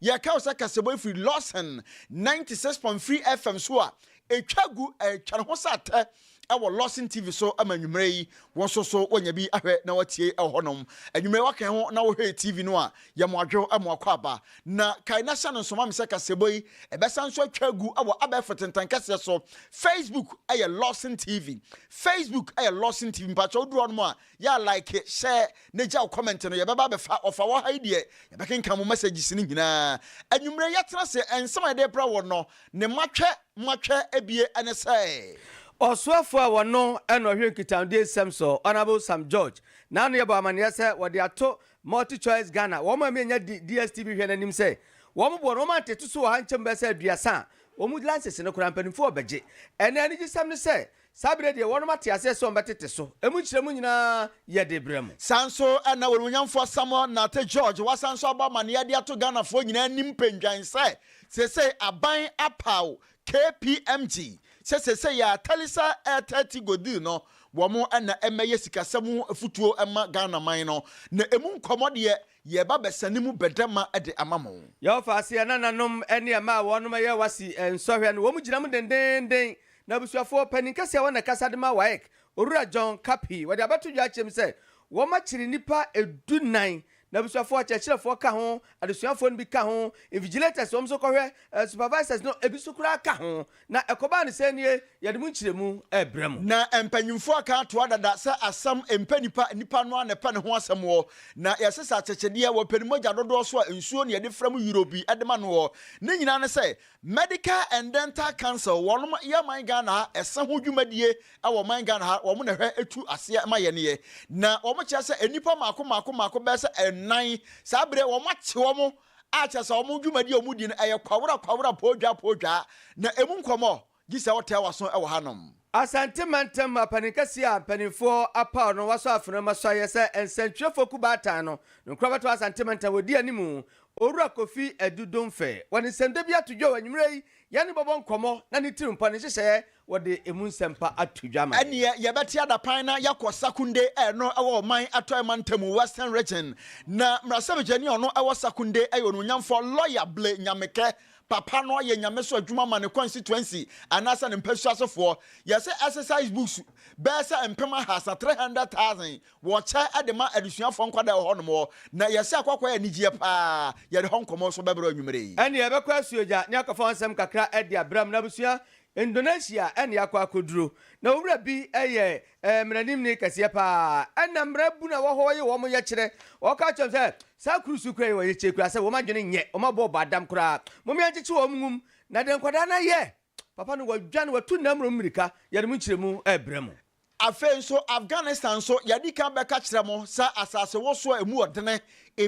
Yɛka wo sɛ kasabɔ yi firi Lawson ninety six point three FM so a ɛtwa gu ɛtwa ne ho sɛ atɛ wɔ Lawson TV so ma anwummerɛ yi. Wo nso so woanya bi ahwɛ na woatie wɔ hɔnom. Anwummerɛ yi woakɛn ho na wohwɛɛ TV no a, yɛ mo adwo ma wakɔ aba. Na kae na hyɛ no nso ma me sɛ kasabɔ yi ɛbɛsan nso atwa agu wɔ abɛɛfo tentankaseɛ so. Facebook yɛ Lawson TV. Facebook yɛ Lawson TV. Mpakyɛ woduru hɔnom a, Yɛ a like sɛ na gyaw comment no yɛbɛba abɛfa ɔfa wɔ ha yi deɛ yɛbɛkenkan mo messages no nyinaa anwumerɛ yɛtena ase nsɛm a yɛde brɛ wo no ne matwɛ matwɛ ɛbie ɛne sɛ. Ɔsoafoɔ a wɔno na ɔhwɛ nkitahodie nsɛm so Honourable Sam George Nanoyɛ bɔ amaneɛ sɛ wɔde ato Multichoice Ghana wɔn a menya di DSTV hwɛ no anim sɛ wɔn boɔ no wɔn antete so wɔ ha nkyɛmu bɛyɛ sɛ aduasa a wɔn license no koraa mpanyinfoɔ rebɛgye. Ɛna anigyesɛm ne sɛ Saa berɛ deɛ wɔnom ate aseɛ sɛ wɔbɛtete so. Emu nkyerɛmu nyinaa yɛ de brɛ mo. Saa nso na Onimuonyamfoɔ Samuel Nartey George wasan nso abɔ amaneɛ de ato Ghanafoɔ nyinaa anim pendwann sɛ seesei aban apaw KPMG sɛ seesei ara Thalisa Ertati Godil no wɔn na ɛmmɛyɛ sikasɛm ho afutuo mma Ghanaman no na emu nkɔmmɔ deɛ yɛba bɛsa ne mu bɛdɛma de ama mo. Yɛwɔ fa aseɛ nananom ne ɛma a wɔnom yɛ wasi nsɔhwɛ no wɔn gyina mu dendeenden N'abusuafoɔ panin kɛseɛ hɔ na ɛkasa de ma WAEC, Owura John Kappy. Wɔde abɛto dwa akyerɛ mu sɛ wɔakyere nnipa du nnan, n'abusuafoɔ, akyerɛkyerɛfoɔ ka ho, adesuafoɔ no bi ka ho, invigilators, wɔn nso kɔhwɛ, ɛɛ supervisors no ebi nso koraa ka ho. Na ɛkɔbaa no sɛn nie? Yɛde mu nkyerɛmu rebrɛ mo. Na mpanyimfoɔ aka atoa dada sɛ asɛm mpɛ nipa, nipa no ara na ɛpɛ ne ho asɛm wɔ. Na yɛsesa akyɛkyɛdeɛ, wɔpɛ ne mogya dodoɔ so a nsuo na yɛde fra mu euro bi de ma no wɔ. Ne nyinaa ne sɛ Medical and Dental Council wɔnom yɛ ɔman Ghana ha ɛsɛ ho dwumadie ɛwɔ ɔman Ghana ha wɔn na ɛhwɛ ɛtu aseɛ ma yɛn yɛ na wɔn kyerɛ sɛ nnipa mako mako mako bɛyɛ sɛ ɛnan saa bere wɔn akye wɔn a kyerɛ sɛ wɔn dwumadie a wɔn di no ɛyɛ kwawra kwawra poodwaa poodwaa na ɛmu nkɔmɔ gye sɛ wotɛɛ waso ɛwɔ ha nom. Asante mantam mapanin kɛseɛ a mpaninfoɔ apaw no wasɔ afena mu asɔeɛ sɛ nsɛntwerɛfoɔ kuo baatan no nkorabata wɔ Asante mantam wɔdi animu Owura Kofi Adu Domfɛ wɔ ne nsɛmda bi ato dwa wɔ anwummerɛ yi yɛne bɛbɔ nkɔmmɔ na ne tirimpɔ ne nhyehyɛeɛ wɔde ɛmu nsɛmpa ato dwa ama yɛn. Ɛneɛ yɛbɛte adapan na yɛakɔ Sakunde a ɛno wɔ Ɔman Atɔe mantam, Western Region, na mmarahyɛbadwani a ɔno wɔ Sakunde yɛ Onuonyamfoɔ Lawyer Blay Nyamekɛ Papa no ayɛ nyamesom adwuma ma ne constituency anaasɛ ne mpasua asefoɔ. Yɛse exercise books bɛyɛ sɛ mpem ahaasa, 300,000, wɔkyɛ de ma adesuafoɔ nkwadaa wɔ hɔnom hɔ. Na yɛse akɔ akɔyɛ anigyeɛ paa. Yɛde hɔ nkɔmmɔ nso bɛbrɛ wo anwumerɛ yi. Ɛnneɛ yɛbɛkɔ asuogya ne akɔfa wo nsɛm kakra de abrɛ mo. N'abusua, Indonesia na yɛakɔ akɔduro. Na wo wura bi yɛ Ɛyɛ mmaraninni kɛseɛ paa ɛna mmarabunu a ɛwɔ hɔ yi wɔn yɛkyerɛ. Ɔka kyerɛ wɔn sɛ, Saa kurusu kura yi wɔn yɛkyerɛ koraa sɛ wɔn adwene nyɛ, wɔn abɔ bɔ adam koraa. Momma yɛnkyekye wɔn nwum. Na deɛ nkwadaa no ayɛ, papa no wadwane, watu nna mmorɔn mmirika. Yɛde mo nkyerɛmu rebrɛ mo. Afei nso, Afghanistan nso, yɛadi kan bɛka akyerɛ mo sɛ asasewosow a emu ɔdene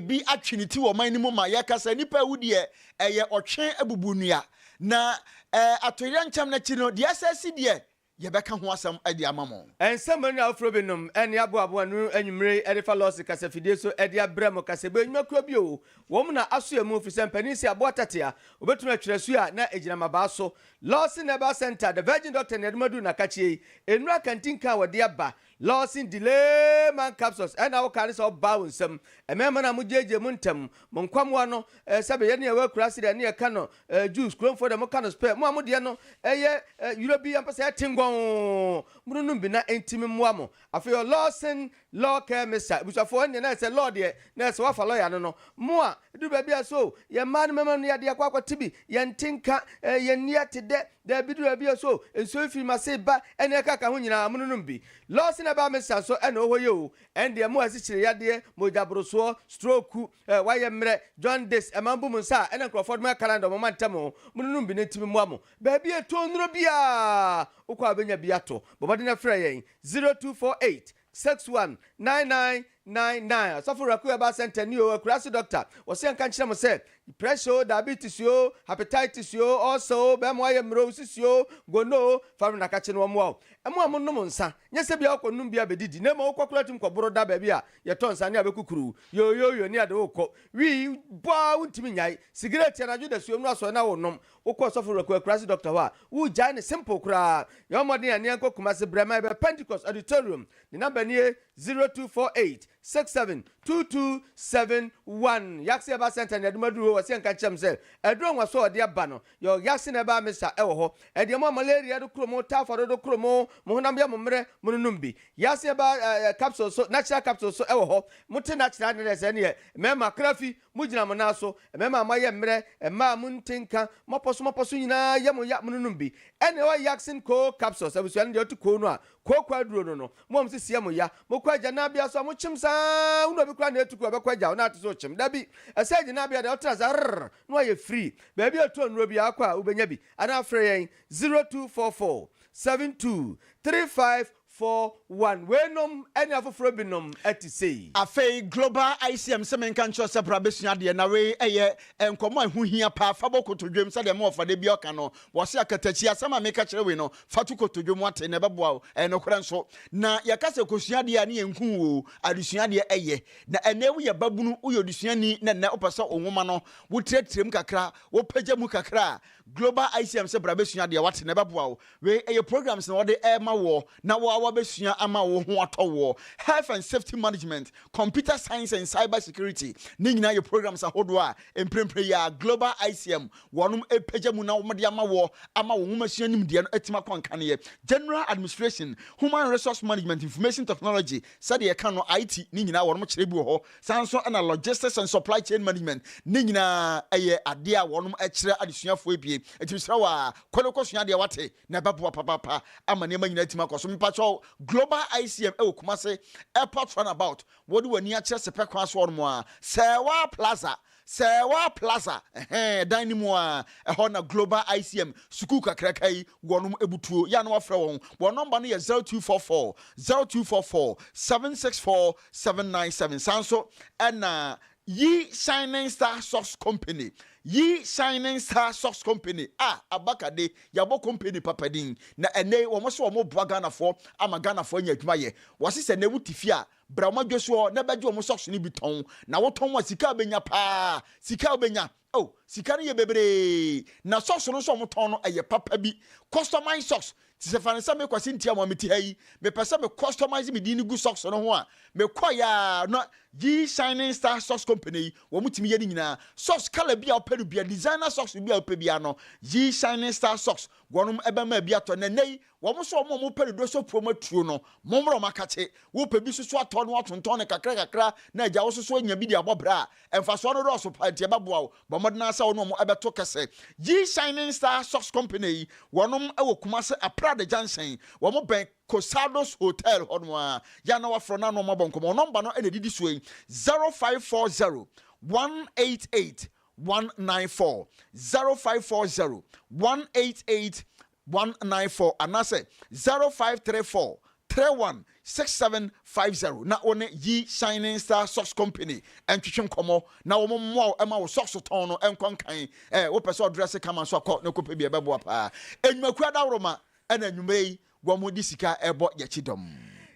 bi atwe ne ti wɔ ɔman no mu ma yɛka sɛ nnipa awu deɛ, ɛyɛ ɔtwe abubunnua. Na atoyerɛnkyɛm no akyi no, deɛ ɛsɛ asi deɛ, Yɛbɛka ho asɛm de ama mo. Nsɛmma nnuru afoforo binom ne aboabo a nnuru anwummere yi de fa lɔse kasa fidie so de abrɛ mo. Kasabu Anwuma Kuo Bio wɔ mu na aso emu efisɛ mpanin si aboa tɛte a obetumi atwerɛ su a na egyina mmabaa so. Lɔse Nɛbaa Sɛnta The Virgin Doctor na yɛde mo aduru na kakyie yi nnuru akantinka a wɔde aba Lawson Delay Man Capsules ɛna woka ne sɛ ɔbaa wo nsam. Mmɛɛma no a mogyeegyee mo ntɛm mo nkwamoa no eh, sɛbe yɛ ne yɛwɔ akuraase dɛ ne yɛka no eh, juice, kuromfoɔ dɛ moka no spɛ, mo a modeɛ no ɛyɛ eh, yuro bi ampɛ sɛ ɛte ngɔnn, mononom bi na ɛntimi mmoa mo. Afei ɔ Lawson Law Care Mixture, abusuafoɔ ɛneɛ na ɛsɛ law deɛ na ɛsɛ wafa lɔya no no, Mmoa, Ɛduru baabi a so yɛn mmaa ne mmarima no yɛ adeɛ akɔ akɔte bi? Yɛnte nka, yɛn nni ate dɛ? Daabi, ɛduru baabi a so nsuo yi firi mo ase ba? Ɛnneɛ ɛka ka ho nyinaa mononom bi. Lɔɔse na ɛbaa me sa so na ɔwɔ hɔ yi oo. Ɛndeɛ mmoa a ɛkyekyere yadeɛ, mogyaborosoɔ, strooku, wayɛ mmerɛ, jaundice, ɛma mobu mo nsa a ɛna nkurɔfoɔ de mo yɛ calendar ɔmoma ntɛm oo, mononom bi na enti memmoa mo. Baabi a ɛtɔn nnuro biara wokɔ a wobɛnya bi ato. Bɔ mmɔden frɛ yɛn 0248 Six one nine nine nine nine Ɔsɔfo Raku Herbal Centre ni o, Akurase Doctor, wɔse yɛnka nkyerɛ mo sɛ, pressure o, diabetes o, hepatitis o, ulcer o, bɛɛma wayɛ mmerɛ o, wosisi o, gono o, fa bra na ka kyerɛ no wɔmmoa wo. Ɛmo a monom nsa, nyɛ sɛ bia wokɔ nom bi abɛdidi, na mmom wokɔ koraa tumi kɔ boro da baabi a yɛtɔ nsa ne abɛkukuru wo, yooyooyo ne yɛde wo kɔ, wii, bɔ ara wontumi nnyae, sigaret anadwo dasuom no asɔre na wonom, Wo kɔ ɔsɔfo reko akurase doctor hɔ a wo gyae no simple koraa. Yɛ ɔmɔden a ne yɛn kɔ kumase brɛ ma yɛ bɛ pentecost auditorium ne number nie zero two four eight six seven two two seven one yaksi herbal center ne adum aduru hɔ wɔsi ɛnka nkyerɛ me sɛ aduru ɔnwaso a ɔde aba no yɛ ɔ yaksi na ɛbaa me sa ɛwɔ hɔ ɛdeɛ mo a malaria do kuro mo typhoid do kuro mo mo honam yɛ mo mmerɛ mo no nom bi yaksi herbal eh, eh, capsule so natural capsule so ɛwɔ hɔ mo te natural ne dɛ sɛ ne yɛ mɛma krafi Mogyina mo nan so, mmarima a moayɛ mmerɛ, mmaa a monte nka, moapɔ so moapɔ so nyinaa, yɛ mo ya, mononom bi. Ɛnna ɛwɔ Yaksin Koo capsules abusua no deɛ ɔte Koo no a, kooko aduro no no. Mo a mo sisi yɛ mo ya, mokɔ agya nnabea so a, mokyem saa ara, wone obi koraa na ɛretu kuro a ɛbɛkɔ agya hɔ na ate sɛ ɔkyem? Dabi, ɛsɛ agya nnabea deɛ wotena ase arrr na woayɛ free. Baabi a ɛtɔn nnuro biara kɔ a, wobɛnya bi, anaa frɛ yɛn 0244 72 35 For one, Weinom ne afoforɔ binom te sei. Afei Global ICM sɛ menka nkyerɛ wo sɛ bra bɛsua adeɛ na wei ɛyɛ nkɔmmɔ a ɛho hia paa fa bɔ kotodwom sɛdeɛ me wɔfa da biara ɔka no wɔse akatakyi asɛm a meka kyerɛ wei no fa to kotodwom wate na ɛbɛboa wo ɛyɛ nokorɛ nso na yɛka sɛ kɔsua adeɛ a ne yɛnku wo oo adesua adeɛ ɛyɛ na ɛnɛ yi woyɛ babunu woyɛ odesuani na nnɛ wopɛ sɛ wo nwoma no wotrɛtrɛm kakra wopagya mu kakra a Global ICM sɛ bra bɛsua deɛ wate na ɛbɛboa wo. Wei ɛyɛ programs na wɔde rema woɔ na wo ara wabɛsua ama wo ho atɔ woɔ. Health and Safety Management, Computer Science and Cyber Security, ne nyinaa yɛ programs ahodoɔ a mprempren yi ara Global ICM wɔnom repagya mu na wɔde ama woɔ ama wo nwomasua nimdeɛ no atumi akɔ nkaneɛ. General Administration, Human Resource Management, Information Technology, sɛdeɛ yɛka no, IT, ne nyinaa wɔnom kyerɛ bi wɔ hɔ Saa nso na Logistics and Supply Chain Management ne nyinaa yɛ adeɛ a wɔnom kyerɛ adesuafoɔ abien. Nti mesrɛ wo aa, kɔ ne kɔsua adeɛ wate, na ɛbɛboa papaapa ama nneɛma nyinaa atumi akɔ so. Mepakyɛw, Global ICM wɔ Kumasi Airport Runabout, wɔde w'ani akyerɛ Sepɛ kwan so hɔnom aa, Sɛɛwaa Plaza, Sɛ waa plaza ɛhɛn ɛdan no mu aa ɛhɔ na global ICM sukuu kakraka yi wɔ nom ɛbutuo yɛ a na wafrɛ wɔn wɔn nɔmba no yɛ zero two four four zero two four four seven six four seven nine seven saa nso ɛna Yi Shining Star Socks Company Yi Shining Star Socks Company a aba kade yabɔ company papa din na ɛnɛ yi wɔn se wɔn boa Ghanafoɔ ama Ghanafoɔ anya adwuma yɛ wɔse sɛ ɛnɛ wo te fie a Bra wɔn adwesoɔ na bɛgye wɔn socks no bi tɔn, na wo tɔn a sika a bɛnya paa, sika a wobɛnya, oh, sika no yɛ bebree, na socks no nso a wɔn tɔn no ɛyɛ papa bi, customize socks, te sɛ fa no sɛ me Kwasi Ntiamoa me te ha yi, me pɛ sɛ me customize me din no gu socks no ho a, me kɔeɛ a na G Shining Star Socks Company yi wɔn tumi yɛ ne nyinaa, socks colour bi a wopɛ no biara, designer socks bi a wopɛ biara no G Shining Star Socks wɔnom bɛma bi atɔ, na ɛnnɛ yi Wɔn nso a wɔn a wɔpɛ dodoɔ sɛ puam atuo no, mommrɛ wɔn akakye. Wopɛ bi soso atɔ na woatontɔn no kakra kakra na agya wo soso anya bi de abɔ bra a, mfasoɔ no dɔɔso paa nti ɛbɛboa wo. Bɔ mmɔden ara sɛ wo ne wɔn bɛto kɛsɛ. G-Shining Star Socks Company yi, wɔnom wɔ Kumase Aprade Junction, wɔn bɛn Cosados Hotel hɔ no ara. Yɛ a na woafrɛ na ne wɔn abɔ nkɔmmɔ. Wɔn nɔmba no na ɛdidi soɔ yi, 0540 188 194, 0540 188 one nine four anaasɛ zero five three four three one six seven five zero na wo ne Yi Shining Star Socks Company ntwetwe nkɔmmɔ na wɔn mmoa wo ma wo socks tɔn no nkɔ nkan. Ɛ wopɛ sɛ ɔdrɛse kama nso a kɔ na kɔpɛ bi ɛbɛboa paa. Nnwumakuo adawroma ɛna anwumerɛ yi wɔn de sika ɛbɔ Yɛkyi Dɔm.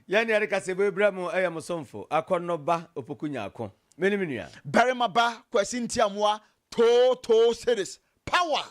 Yɛn deɛ yɛde kaseɛbɔ yi brɛ mo ɛyɛ mo somfo Akɔnnɔ ba Opoku Nyarko. Me ne me nua. Barima ba Kwasi Ntiamoa Too Too Series Power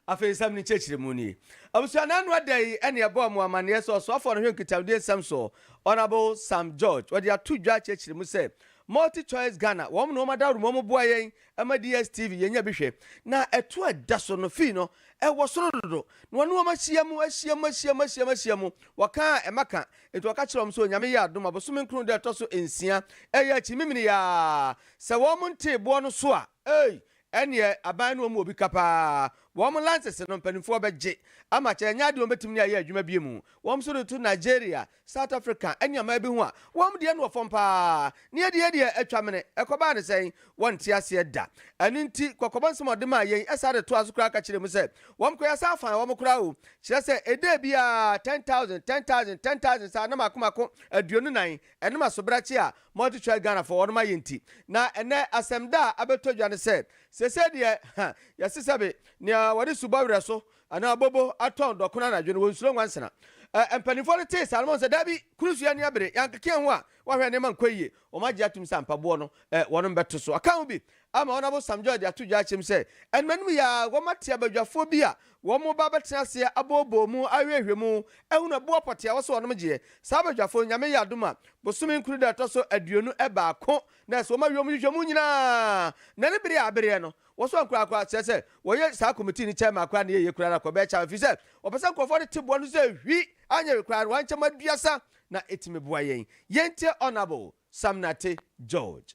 Afei nsɛm no nkyerɛkyerɛmu nie. Abusua no ano da yi ne ɛbɔɔ mo amanneɛ sɛ ɔsoafoɔ no hwɛ nkitahodie nsɛm soɔ, Honourable Sam George, wɔde ato dwa akyerɛkyerɛ mu sɛ, Multi Choice Ghana, wɔn na wɔn adawuruma mu boa yɛn ma DSTV yɛnya bi hwɛ. Na ɛtoɔ a ɛda so no, fee no, ɛwɔ soro dodo. Na wɔne wɔn ahyia mu, ahyia mu, ahyia mu, ahyia mu, ahyia mu. Wɔka a, ɛma ka. Enti wɔka kyerɛɛ wɔn sɛ Onyame yɛ adom a, bosome nkron da a ɛtɔ so nsia, ɛyɛ akyi memeneyaa, sɛ wɔn ntee boɔ no so a, ei, Ɛneɛ aban no ɔmu obi ka paa wɔn lances no mpaninfoɔ bɛgye ama kyɛ ɛnyɛ adeɛ wɔn bɛtumi ne ayɛ adwuma bio mu wɔn nso de to Nigeria, South Africa ɛne aman bi ho a wɔn deɛ no wɔ fam paa neɛ deɛ deɛ atwa mene ɛkɔbaa ne sɛn wɔn nte aseɛ da ɛno nti kɔkɔbɔ nsɛm a ɔde maa yɛn ɛsan de toa so koraa ka kyerɛ mu sɛ wɔn kɔ yɛsan faa wɔn koraa o kyerɛ sɛ ɛda biara ten thousand ten thousand ten thousand saa na mako mako aduonu nan Ɛnom asobrakye a multichoice Ghanafoɔ wɔnom ayɛ nti. Na ɛnɛ asɛm da a abɛtɔ dwa ne sɛ, sesei deɛ ha yɛse sɛbe nea wɔde subɔ werɛ so anaa bobo atɔn dɔkono anadwo no wɔnsuro nwansena. Ɛ mpanyinfoɔ no tee saa no wɔn sɛ daabi kuro so yɛani abere yɛankeke yɛn ho a woahwɛ nneɛma nkɔ yie. Wɔn agye atom sɛ ampa boɔ no ɛ wɔnom bɛto so. Ɔka ho bi Ama Ɔno Abosam Joy de ato dwa akyem sɛ anuanom yi a wɔate abadwafoɔ bi a wɔreba abɛtena aseɛ abooboo mu ahwɛhwɛ mu ahunu ɛboɔ pɔtee a wɔse wɔnom gyeɛ. Saa abadwafoɔ no, Nyame yɛ adom a, bosome nkron da a ɛtɔ so aduonu baako na ɛso wɔma wiem nhwehwɛmu nyinaa na ne bere a abereɛ no, wɔso ankoraa koraa, kyerɛ sɛ wɔyɛ saa committee no chairman koraa ne yɛyɛ koraa no akɔbɛyɛ chairman ɛfiri sɛ wɔpɛ sɛ nkorɔfoɔ no te boa no sɛ hwi, anyɛ wei koraa no wɔankyɛm aduasa na ɛtumi boa yɛn. Yɛntie Honourable Samnate George.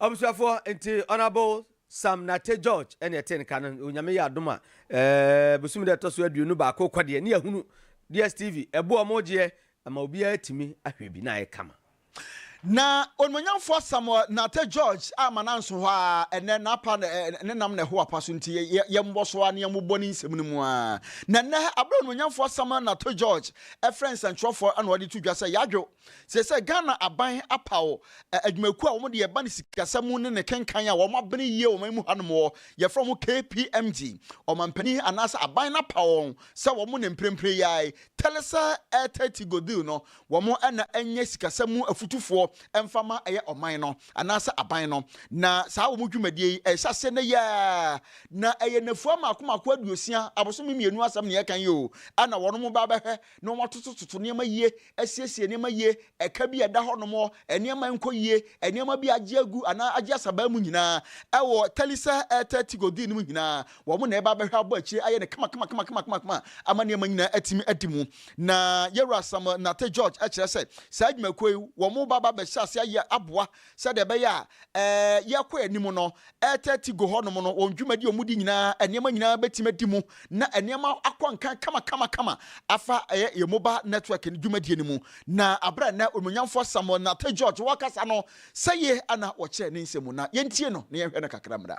Abusuafoɔ nti Honourable Sam Nartey George ɛne ɛte nka no onyame yɛ adom a ɛɛ bosom dɛ ɛtɔ so aduonu baako kɔ deɛ ne yɛhunu DSTV ɛbo a ɔmo gyeɛ ama obiara atumi ahwɛ bi na ayɛ kama. Na Onimuonyamfoɔ Samuel Nartey George a ma nanso hɔ ara ɛnɛ n'apa ne nam na ɛho apa so nti yɛ mmɔ so ara na yɛ mo bɔ ne nsɛm no mu ara na ɛnɛ ɛberɛ a Onimuonyamfoɔ Samuel Nartey George ɛfrɛ nsɛntwerɛfoɔ ɛna ɔde to dwa sɛ Yadwo Seesei Ghana aban apaw adwumakuo a wɔn deɛ ɛba ne sikasɛm mu ne ne kenkan a wɔn abene yie wɔ ɔman mu hanom hɔ, yɛfrɛ wɔn KPMG. Ɔmampanin anaasɛ aban no apaw wɔn sɛ wɔn ne mprempren yi ara yi, Theresa Erthaty Goodhill no, wɔn na ɛnyɛ sikasɛm mu afutufoɔ mfa ma ɛyɛ ɔman no anaasɛ aban no. Na saa wɔn dwumadie yi, ɛhyɛ aseɛ nnɛ yi ara, na ɛyɛ nnafua mmaako mmaako aduosia, abosome mmienu asɛm na yɛreka yi o, a na wɔn ba abɛhwɛ na wɔatotototo nneɛma yie, asiesie nneɛma yie, ɛka bi a ɛda hɔnom, nneɛma a ɛnkɔ yie, nneɛma bi a agye agu anaa agye asabaa mu nyinaa, ɛwɔ Tɛlisa Ɛɛtɛɛ Tigo Dii no mu nyinaa, wɔn na ɛreba abɛhwɛ abɔ akyire ayɛ no kamakamakamakama ama nneɛma nyinaa atumi adi mu. Na Yɛwura Samuel Nartey George kyerɛ sɛ, saa adwumakuo yi, wɔn ba ba bɛhyɛ aseɛ ayɛ aboa sɛdeɛ ɛbɛyɛ a ɛɛ yɛkɔ anim no, ɛɛtɛti go hɔnom no, wɔn dwumadi a wɔdi nyinaa, nneɛma nyinaa bɛtumi adi mu, na nneɛma akɔ nkan kamakamakama afa ɛyɛ yɛn mobile network no dwumadie no mu. Na aberɛ a nnɛ Onuonyamfoɔ Samuel Nartey George ɔɔkasa no, sɛie na ɔkyerɛɛ ne nsɛm mu, na yɛntie no na yɛnhwɛ no kakra mmra.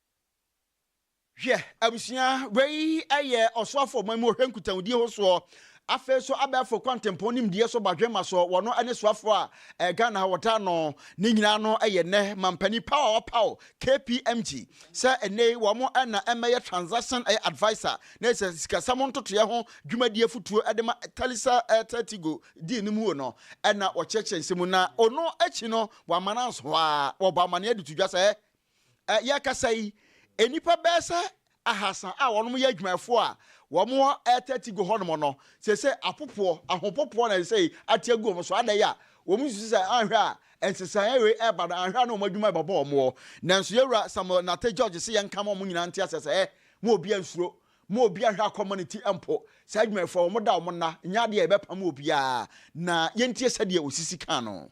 Hwɛ, abusua, wei yɛ ɔsoafo ɔman mu ɔhwɛ nkutahodi ho soɔ, afei so abɛɛfo kwantempɔn nimdeɛ so badwemma soɔ, wɔno ne soafo a eh, Ghana ha wɔtaa no ne nyinaa no yɛ nnɛ mampanin paw a wɔpaw KPMG sɛ nnei wɔn na ɛmmɛyɛ transaction eh, adviser na sɛ sikasɛm ntotoeɛ ho dwumadie afutuo de ma Thalisa eh, Thaltigo dii no muo no na wɔkyerɛkyerɛ nsɛm mu na ono akyi no wɔama no anso hɔ a wɔbɔ amanneɛ de to dwa sɛ yɛrekasa yi, nnipa bɛyɛ sɛ ahasa a wɔnom yɛ adwumayɛfoɔ a wɔn hɔ ɛte ati gu hɔ nom no, seesei apopoɔ, ahopopoɔ na seesei ate agu wɔn so, adɛn a wɔn susu sɛ anhwɛ a nsesaeɛ wei ɛreba no anhwɛ a na wɔn adwuma ɛbɛbɔ wɔn hɔ. Nanso Yɛwura Samuel Nartey George se yɛnka ma wɔn nyinaa nte aseɛ sɛ, mo obiara nsuro, mo obiara nhwɛ akɔ mma ne ti mpo, saa adwumayɛfoɔ yi wɔn da wɔn nna, nyɛ adeɛ a yɛbɛpam obiara, na yɛntie sɛdeɛ osisi kaa no.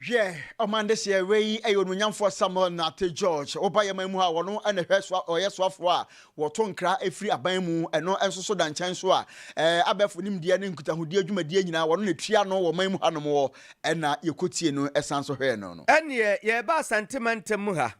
Hwɛ, ɔman dehyeɛ wei yi yɛ onuonyamfoɔ Samuel Nartey George, wo ba yɛman mu ha, ɔno na hwɛ soa, ɔyɛ soafoɔ a wɔto nkra firi aban mu, ɛno nso so da nkyɛn so a ɛɛ abɛɛfo nimdeɛ ne nkutahodie dwumadie nyinaa wɔno na ɛtua ano wɔ ɔman mu ha nom hɔ, ɛna yɛkɔtiee no san so hwɛɛ no no. Ɛnneɛ yɛreba Asante mantam mu ha,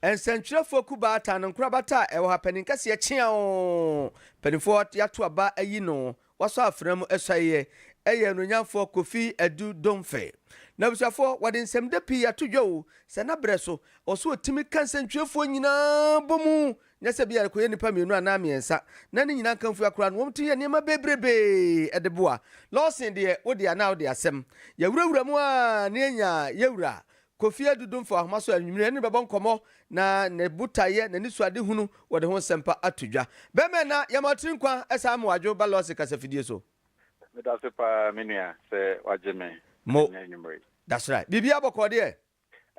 nsɛntwerɛfoɔ kuba atan no nkorabata a ɛwɔ ha, panin kɛseɛ kyeaoo, mpanimfoɔ yɛato aba ayi no, Wasɔ afena mu suaeɛ ɛyɛ Onuonyamfoɔ Kofi Adu Domfɛɛ. N'abusuafoɔ wɔde nsɛmdɛ pii ato dwa o, sɛ na berɛ so ɛwɔ sɛ ɔtumi ka nsɛntwerɛfoɔ nyinaa bɔ mu nyɛ sɛ bia ɛkɔyɛ nnipa mmienu anaa mmiɛnsa na ne nyinaa nkamfua koraa no wɔn tumi yɛ nneɛma bebrebee de boa. Lawson deɛ wo deɛ anaa wo de asɛm yɛawurawura mu aa na yɛnyaa yɛwura Kofi adudum fa ahoma so anwummere, ɛne no bɛbɔ nkɔmmɔ, na ne botaeɛ, n'anisoadehunu wɔ ne ho nsɛmpa ato dwa. Bɛmɛ na yɛma ɔtene nkwa ɛsan ama wadwo ba lɔse kasafidie so. Meda ase paa me nua sɛ wagye me Mo. ɛnnɛ anwummere yi. That's right. Biribiara bɔkɔɔ deɛ?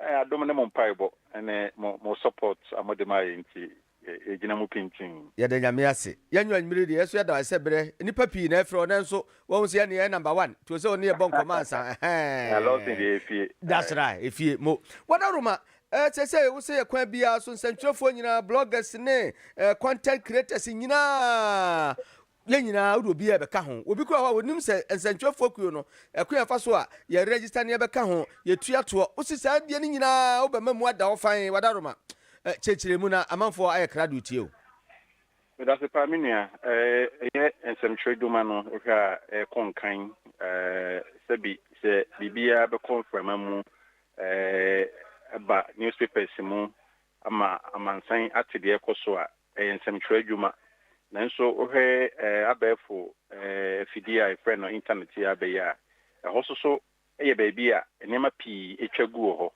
Ɛɛ, adom ne mo mpaebɔ ne mo mo support a mode ma yɛn nti, yɛgyina mu pintinn. Yɛda Nyame ase. Yɛn Nwa Nwiri deɛ yɛso yɛda wo ase sɛ berɛ nnipa pii na ɛfrɛ wo nanso wahu sɛ yɛne yɛyɛ number one nti ɔsɛ ɔne yɛbɔ nkɔmmɔ ansa ɛhɛɛɛɛ. Lawson deɛ efie. That's right efie mo. Wadaroma eh, seesei wo sɛ yɛ kwan biara so nsɛntwerɛfoɔ nyinaa, bloggers ne eh, content creators nyinaa Yɛn nyinaa, wode obi rebɛka ho? Obi koraa wɔ hɔ a onim sɛ nsɛntwerɛfoɔ kuo no, ɛkwan a ɛfa so a yɛ register ne yɛbɛka ho, yɛtua toɔ? Wosi saa deɛ no nyinaa a wobɛma mu ada hɔ fann, w'adaroma? Kyerɛkyerɛ mu na amanfoɔ ayɛ kra de retie wo. Medase paa me nua. Ɛyɛ nsɛmtwerɛ dwuma no wohwɛ a ɛkɔ nkan sɛbi sɛ biribiara bɛkɔ mframa mu ɛba newspapers mu ama amansan ate deɛ ɛkɔ so a Ɛyɛ nsɛmtwerɛ adwuma. Nanso wohwɛ abɛɛfo afidie a yɛfrɛ no intanɛt yi abɛ yi a, ɛhɔ nso so yɛ baabi a nneɛma pii atwa gu wɔ hɔ.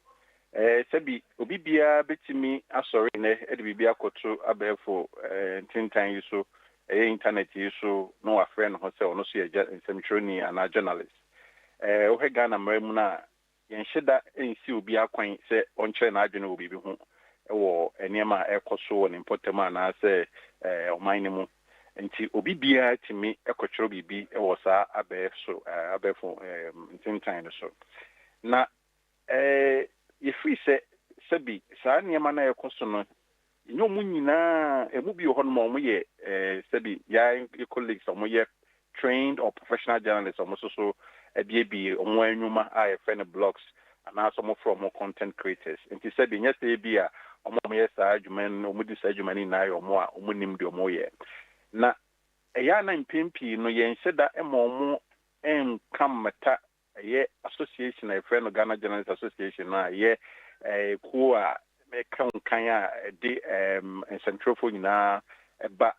Sɛbi obi biara bɛtumi asɔre nnɛ de biribi akɔto abɛɛfo ntentan yi so, ɛyɛ intanɛt yi so, na wafrɛ ne ho sɛ ɔno nso yɛ nsɛmtwerɛni anaa journalist. Wohwɛ Ghana mmara mu no a, Yɛnhyɛ da nsiw obiara kwan sɛ ɔnkyerɛ n'adwene wɔ biribi ho wɔ nneɛma a ɛrekɔ so wɔ ne mpɔtam anaasɛ ɔman no mu nti. Obi biara tumi kɔtwerɛ biribi wɔ saa abɛɛfo abɛɛfo ntentan no so, na yɛfiri sɛ sɛbi saa nneɛma no a ɛrekɔ so no Ɛnyɛ wɔn nyinaa, ɛmu bi wɔ hɔnom a wɔyɛ sɛbi yɛn colleagues a wɔyɛ trained or professional journalists a wɔn nso so abiebie wɔn anwuma a yɛfrɛ no blogs anaasɛ wɔfrɛ wɔn content creators. Nti sɛbi nyɛ sɛ ebi a wɔn a wɔyɛ saa adwuma no na wɔdi saa adwuma no nyinaa yɛ wɔn a wɔnim deɛ wɔyɛ. Na ɛyɛ a na mpɛn pii no yɛnhyɛ da mma wɔn nka mmata Ɛyɛ association a yɛfrɛ no Ghana Journalists Association no a ɛyɛ kuo a ɛka nkan a ɛde nsɛntwerɛfoɔ nyinaa ba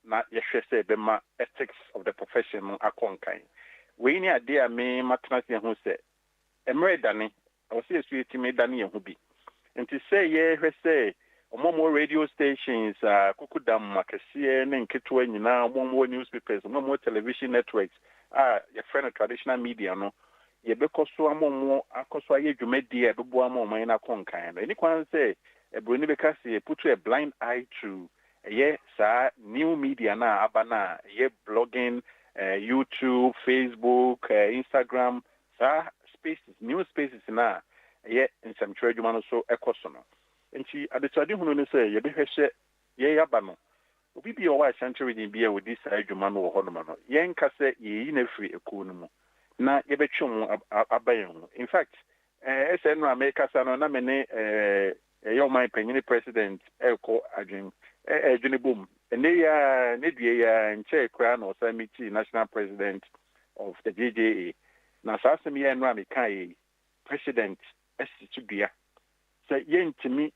na yɛhwɛ sɛ yɛbɛma ethics of the profession no akɔ nkan. Wei ne adeɛ a me matena ase ahu sɛ mmerɛ redane Ɛwɔ sɛ yɛsu tumi dane yɛn ho bi. Nti sɛ yɛhwɛ sɛ ɔmo a ɔmo wɔ radio stations a kukudam akɛseɛ ne nketewa nyinaa, ɔmo a ɔmo wɔ news papers, ɔmo a ɔmo wɔ television networks a yɛfrɛ no traditional media no, yɛbɛkɔ so ama ɔmo akɔ so ayɛ dwumadie a ɛbɛboa ama ɔman no akɔ nkan no. Ɛni kwan sɛ Buroni bɛka sɛ yɛ put a blind eye to ɛyɛ saa new media no a aba no a ɛyɛ blogging, YouTube, Facebook, Instagram, Saa spaces, new spaces no a ɛyɛ nsɛmtwerɛ adwuma no so kɔ so no. Enti adesuade hunu ne sɛ yɛbɛhwɛ hyɛ yɛn aba no. Obi biara a ɔwɔ Ashanti Region biara a ɔdi saa adwuma no wɔ hɔnom no, yɛrenka sɛ yɛreyi no afiri akuo no mu na yɛbɛtwe wɔn aba yɛn ho. In fact, ɛɛ, sɛ nnora merekasa no na me ne ɛɛ, Yɛyɛ ɔman panyin president rekɔ adwen ɛredwene bom ɛnɛ yi ara ne dua yi ara nkyɛɛ koraa na ɔsan meetii national president of the JJA na saa asɛm yi a ɛnora mekaeɛ yi president asi so dua sɛ yɛntumi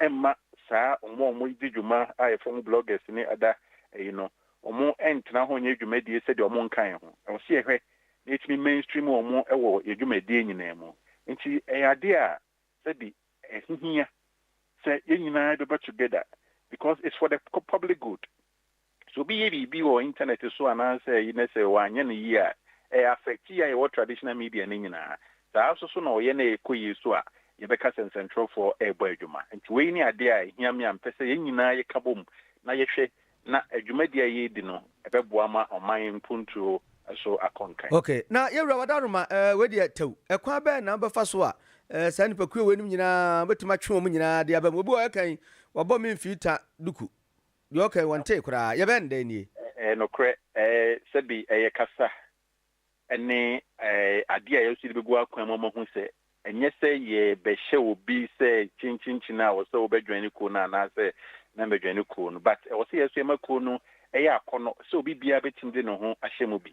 mma saa ɔmo a ɔmo di dwuma a yɛfrɛ ɔmo bloggers ne ada ɛyi no ɔmo ntena hɔ nyɛ dwumadie sɛdeɛ ɔmo nka yɛn ho ɛwɔ sɛ yɛhwɛ na yɛtumi mainstream ɔmo ɛwɔ yɛ dwumadie nyinaa mu nti ɛyɛ adeɛ a sɛde ɛho hia sɛ yɛn nyinaa yɛbɛba together because it's for the public good. Sɛ obi yɛ biribi wɔ internet so anaasɛ ayi na sɛ wanyɛ no yie a, ɛ affect yɛn a yɛwɔ traditional media no nyinaa. Saa nso so na ɔyɛ na ɛkɔ yie so a, yɛbɛka sɛ nsɛntwerɛfoɔ ɛrebɔ adwuma. Nti wei ne adeɛ a ɛhia me a mepɛ sɛ yɛn nyinaa yɛka bom na yɛhwɛ na dwumadi a yɛredi no bɛboa ma ɔman mpontuo so akɔ nkan. Ok, na yɛn Wura Wada Aroma, eh, wei deɛ tɛw. Ɛkwan bɛn na wobɛfa so a, eh, saa nnipakuo weinom nyinaa, wobɛtumi atwe wɔn nyinaa de aba mu? Obi wɔ hɔ a ɛka yi, wabɔ me mfii ta duku. Deɛ ɔka yi, wɔntee koraa. Yɛbɛyɛ no dɛn nie? Ɛyɛ nokorɛ, eh, sɛbi ɛyɛ kasa ne adeɛ a yɛwɔ sɛ yɛde bɛgu akwan mu ama hu sɛ ɛnyɛ sɛ yɛbɛhyɛ obi sɛ kyenkyenkyen a wɔ sɛ wobɛdwɛn ne kuo no anaasɛ na mbɛdwɛn ne kuo no but ɛwɔ sɛ yɛ nso yɛma kuo no ɛyɛ akɔnɔ sɛ obi biara bɛtumi de ne ho ahyɛ mu bi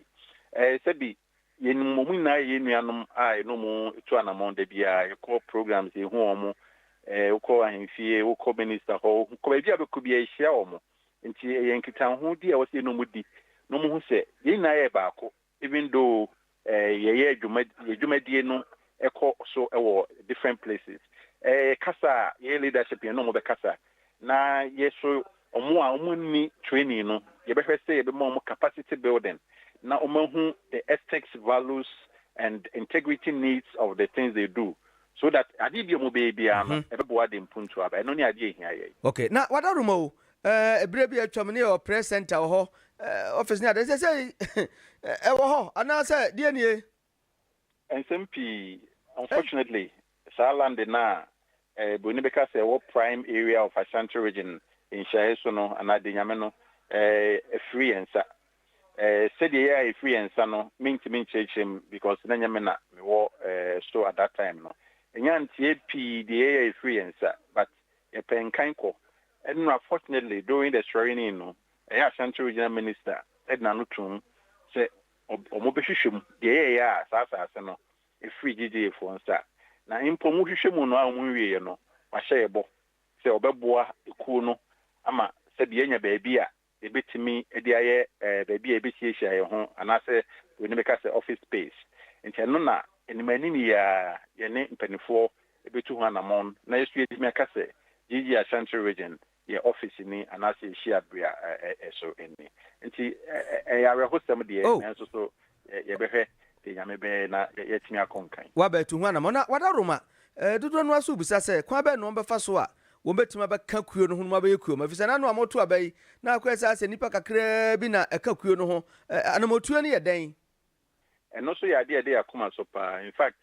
sɛbi yɛnim wɔn nyinaa yɛ yɛn nuanom a yɛne wɔn tu anamɔn da biara yɛkɔ programs yɛhu wɔn wokɔ ahemfie wokɔ minister hɔ wokɔ baabi a bɛkɔ biara yɛhyia wɔn Nti ɛyɛ nkitahodi a ɛwɔ sɛ yɛne wɔn di na wɔn hu sɛ yɛn nyinaa yɛ baako even though yɛyɛ dwuma yɛn dwumadie no ɛkɔ so wɔ different places. Ɛyɛ kasa a yɛyɛ leadership yɛne wɔn bɛkasa na yɛso wɔn a wɔn nni training no yɛbɛhwɛ sɛ yɛbɛma wɔn capacity building na wɔn ahu the ethics, values and integrity needs of the things they do So that adeɛ bi a wɔbɛyɛ biara no, ɛbɛboa de mpuntuo aba. Ɛno ne adeɛ a ɛhia yɛn. Ok, na Wadaroma o, eh, berɛ bi a atwam no yɛwɔ press center wɔ hɔ, eh, office ne adeɛ, seesei eh, ɛwɔ hɔ anaa sɛ deɛ nie? Nsɛm pii, unfortunately, saa land no a eh, Buroni bɛka sɛ ɛwɔ prime area of Ashanti region nhyiaeɛ so no, anaa Denyame no, eh, afiri yɛn nsa. eh, sɛdeɛ ɛyɛ a ɛfiri yɛn nsa no, mentumi nkyerɛkyerɛ mu because na nyɛ me na mewɔ eh, so at that time no. Ɛnya nteɛ pii deɛ ɛyɛ a ɛfiri yɛn nsa but yɛpɛ nkan kɔ. Ɛnora fortunately during the swearing in no, ɛyɛ Ashanti Regional Minister ɛde n'ano toom sɛ wɔbɛhwehwɛ mu deɛ ɛyɛ ɛyɛ a saa asase no ɛfiri GGA foɔ nsa. Na mpo wɔhwehwɛ mu no a wɔnwieɛ no, wahyɛ yɛbɔ sɛ ɔbɛboa ekuo no ama sɛdeɛ yɛanya baabi a yɛbɛtumi de ayɛ baabi a yɛbɛhyiahyia yɛn ho anaasɛ buroni bɛka sɛ office space. Nti ɛno na anim anim yi ara yɛne mpaninfoɔ bɛtu ho anamɔn na yɛso yɛatumi aka sɛ GG Ashanti Region yɛ office ni anaasɛ yɛ hyiabea so ni. Nti ɛyɛ awerɛhosɛm deɛ nanso so Yɛbɛhwɛ deɛ Nyame bɛyɛ na yɛatumi akɔ nkan. Wɔabɛtu ho anammɔn na wɔada Roma dodoɔ no ara so rebisa sɛ kwan bɛn na wɔbɛfa so a wɔbɛtumi abɛka kuo no ho na wɔabɛyɛ kuo ma, efisɛ na ano a wɔreto aba yi na akɔyɛ saa sɛ nnipa kakraa bi na ɛka kuo no ho. Anammɔntuo no yɛ dɛn? Ɛno nso yɛ adeɛ a ɛda yɛn akoma so paa. In fact,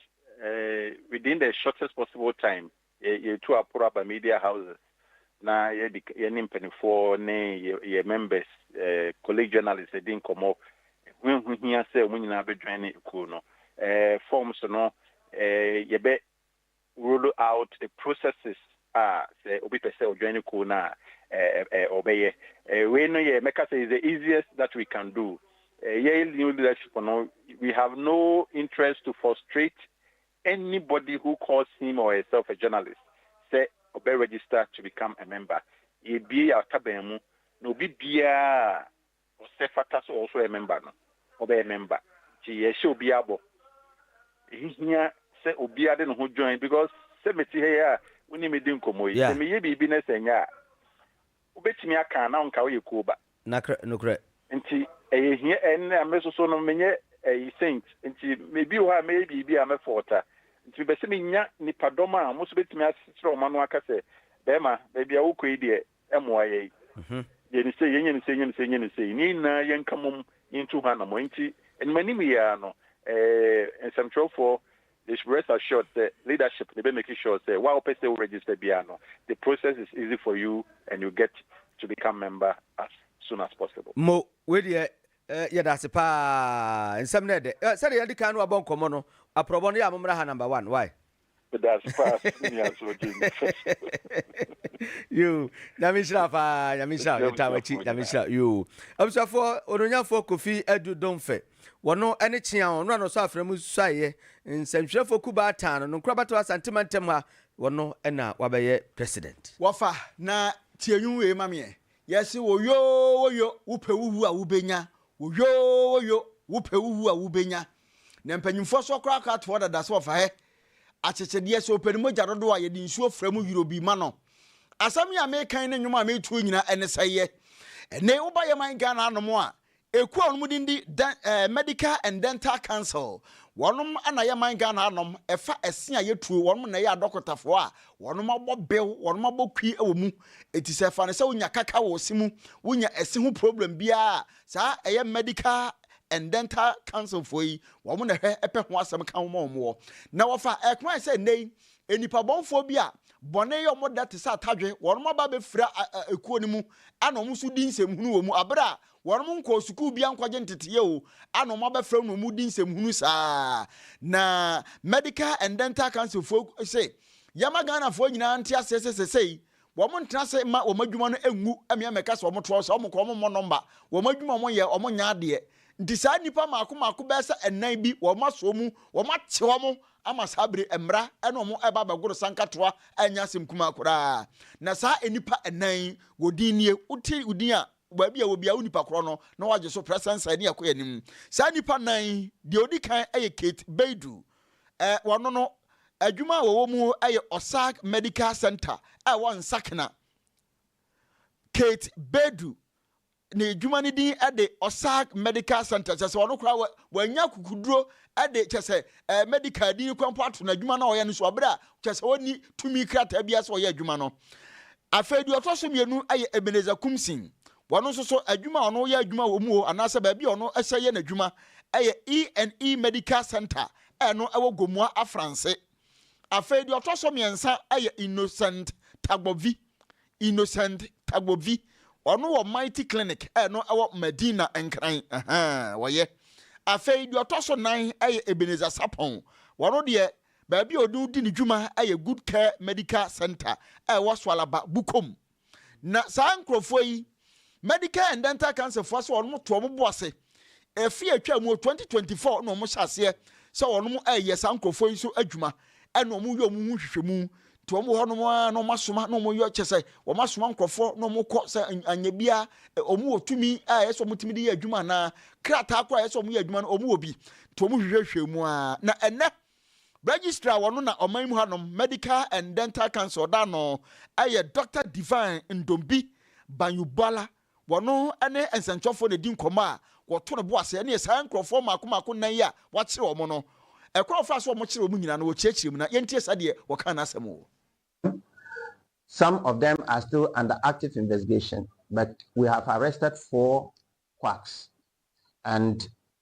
within the shortest possible time, Yɛ, yɛtu aporo aba media houses na yɛdi ka, yɛne mpaninfoɔ ne yɛ, yɛ members, eh, colleague journalists adi nkɔmmɔ. Ɛho, ɛho hia sɛ wɔn nyinaa bɛ join ekuo no. Eh, forms no, eh, yɛbɛ roll out the processes a sɛ obi pɛ sɛ ɔjoin kuo no a, eh, eh, eh, ɔbɛyɛ. Eh, wei no yɛ, mɛka sɛ is the easiest that we can do. Eh, yɛ new leadership no, we have no interest to frustrate Anybody who calls him or herself a journalist sɛ ɔbɛ register to become a member, yɛbue yɛ taban mu na obi biara a ɔsɛ fata sɛ ɔwɔso ɔyɛ member no, ɔbɛyɛ member. Nti yɛhyɛ obiara bɔ. Ɛhihia sɛ obiara de ne ho join because sɛ mete ha yi a, wo ne me di nkɔmmɔ yi, sɛ meyɛ biribi na sɛ ɛnyɛ a, Wobɛtumi aka a na nka woyɛ kuo ba. Nakr, nokorɛ. Nti ɛyɛ hia ɛ, na me soso no menyɛ ɛyi saint nti ebi wɔ hɔ a mɛyɛ biribi a mɛ fault a, nti mepɛ sɛ menya nipa dɔm a wɔn nso bɛtumi asekyerɛ wɔn ano aka sɛ bɛɛma baabi a wokɔ yi deɛ ɛmoa yɛn, yɛ no sei, yɛnyɛ no sei, yɛnyɛ no sei, yɛnyɛ no sei, ne nyinaa yɛnka mom yɛntu ho anamɔ. Nti animanim yi ara no ɛɛ nsɛmtwerɛfoɔ They should rest assured sɛ leadership no bɛ make sure sɛ wo a wopɛ sɛ wo register biara no the process is easy for you and you get to become member as soon as possible. Mo, wei deɛ eh, yɛdase paa, nsɛm no ɛdɛ. Eh, sɛdeɛ yɛadi kan no abɔ nkɔmmɔ no, aprɔbɔ no, yɛ a mommra ha number one, why? Medase paa Nua Soo Gyimii Fɛsɛw. Yoo, Nyame nhyira wo paa, Nyame nhyira wo, Yɛtaa w'akyi, Nyame nhyira wo, yoo. Abusuafoɔ, Onuonyamfoɔ Kofi Adu Domfɛ, Wɔno ne Kye Aon, ɔno a na ɔsɔ afena mu suaeɛ nsɛntwerɛfoɔ kuo baatan no nkorabatoɔ Asante mantam ha, wɔno na wabɛyɛ president. Wɔfa na tie nwom wei ma meɛ. Yɛse woyoo woyo wopɛ wowu a wobɛnya Woyoo woyo wopɛ wowu a wobɛnya Na mpanyimfoɔ so koraa koraa toɔ dada sɛ wɔfa hɛ akyekyedeɛ Sɛ ɔpɛ ne mogya dodoɔ a yɛde nsuo fra mu yoro bi ma no Asɛm yi a meka yi ne nwom a meto yi nyinaa ɛne sɛeɛ Ɛnne woba yɛman Ghana anom a Ekuo a wɔn din de Dɛn ɛɛ Medical and Dental Council, wɔn na ɛyɛ man Ghana hanom, ɛfa ɛse a yɛtuo, wɔn na ɛyɛ adɔkotafoɔ a wɔn abɔ bew, wɔn abɔ kwi wɔ mu. Enti sɛ fa no sɛ wonya kaka wɔ wo se mu, wonya ɛse ho problem biara a, saa ɛyɛ Medical and Dental Council foɔ yi, wɔn na ɛhwɛ pɛ ho asɛm ka wo ma wɔn wɔ. Na wɔfa ɛkwan a sɛ nnɛ yi, nnipa bɔnfoɔ bi a bɔne yɛ wɔn dɛ te sɛ atadwe, wɔn aba abɛfira a ekuo no mu ɛna wɔn nso di nsɛmhunu wɔ mu, abere a Wɔnom nkɔɔ sukuu biaa nkɔgye nteteɛ o a na ɔmo abɛfrɛ wo na ɔmo redi nsɛm hunu saa. Na Medical and Dental Council foɔ se yɛma Ghanafoɔ nyinaa nte aseɛ sɛ sɛsɛi wɔn ntena ase mma wɔn adwuma no ngu mmea mmɛka sɛ wɔn toɔ sɛ wɔn kɔ wɔn mmɔ nɔmba wɔn adwuma wɔn yɛ wɔn nyɛ adeɛ nti saa nnipa mmaako mmaako bɛyɛ sɛ nnan bi wɔn asɔ mu wɔn ate wɔn ama saa bere mmara ɛna wɔn ɛba bɛgoro sankatoa ɛnyɛ asɛm kumaa koraa na saa nnipa nnan yi wɔn din nie wote wo din a wɔ baabi a wɔbia wo nipa korɔ no na wɔagye so prɛsɛnsɛn ne ɛkɔ anim. Saa nnipa nnan yi, deɛ ɔdi kan yɛ Kate Baidu. Eh, wɔno no, adwuma a wɔwɔ mu yɛ Osag Medical Centre a ɛwɔ Nsakena. Kate Baidu, ne adwuma no din de Osag Medical Centre, kyerɛ sɛ ɔno koraa wɔanya akukuduro de kyerɛ sɛ ɛɛ medical din kura mpo ato n'adwuma no a ɔyɛ no so wɔ bere a kyerɛ sɛ ɔnni tumi krataa biara sɛ ɔyɛ adwuma no. Afei deɛ ɔtɔ so mmienu yɛ Ebenezer Kumsing. Wɔn nso so adwuma a ɔno yɛ adwuma wɔ mu o anaasɛ baabi a ɔno hyɛ yɛ n'adwuma yɛ E and E Medical Centre a ɛno wɔ Gomoa Afranse. Afei deɛ ɔtɔ so mmiɛnsa yɛ Innocent Tagbobvi, Innocent Tagbobvi, ɔno wɔ Mighty Clinic a ɛno ɛwɔ Madina Nkran, ahaa, wɔyɛ. Afei deɛ ɔtɔ so nan yɛ Ebenezer Sapon, ɔno deɛ baabi a ɔno di ne dwuma yɛ Good Care Medical Centre a ɛwɔ Soalaba, Bukom. Na saa nkorɔfoɔ yi, Medicare and Dental Council foɔ sɛ wɔn to wɔn bo ase. Ɛfeɛ a ɛtwaa mu wɔ twenty twenty four na wɔn hyɛ aseɛ sɛ wɔn ɛɛyɛ saa nkorɔfoɔ yi so adwuma ɛna wɔn yɛ wɔn ho nhwehwɛmu nti wɔn wɔ hɔ nom ara na wɔn asoma na wɔn yɛ kyɛ sɛ wɔn asoma nkorɔfoɔ na wɔn kɔ sɛ anyɛ bia wɔn wɔ tumi a ɛyɛ sɛ wɔn tumi de yɛ adwuma anaa krataa kora ɛyɛ sɛ wɔn yɛ adwuma no wɔn wɔ bi nti wɔn hwehwɛhwɛ mu ara na ɛnɛ Registrar wɔ no na ɔman mu hanom Medical and Dental Council da ano yɛ Doctor Divine Ndombi Banyubuala, wɔ no ne nsɛnkyerɛwfoɔ na ɛdi nkɔmmɔ a wɔto no bo ase ɛneɛ saa nkurɔfoɔ mmaako mmaako nnan yi a wɔakyere wɔn no ɛkwan a wɔfaa so a wɔkyeree wɔn nyinaa no wɔkyerɛkyerɛ mu na yɛntie sadeɛ wɔkaa n'asɛm wɔ Some of them are still under active investigation but we have arrested four quacks and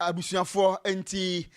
Abusuafoɔ nti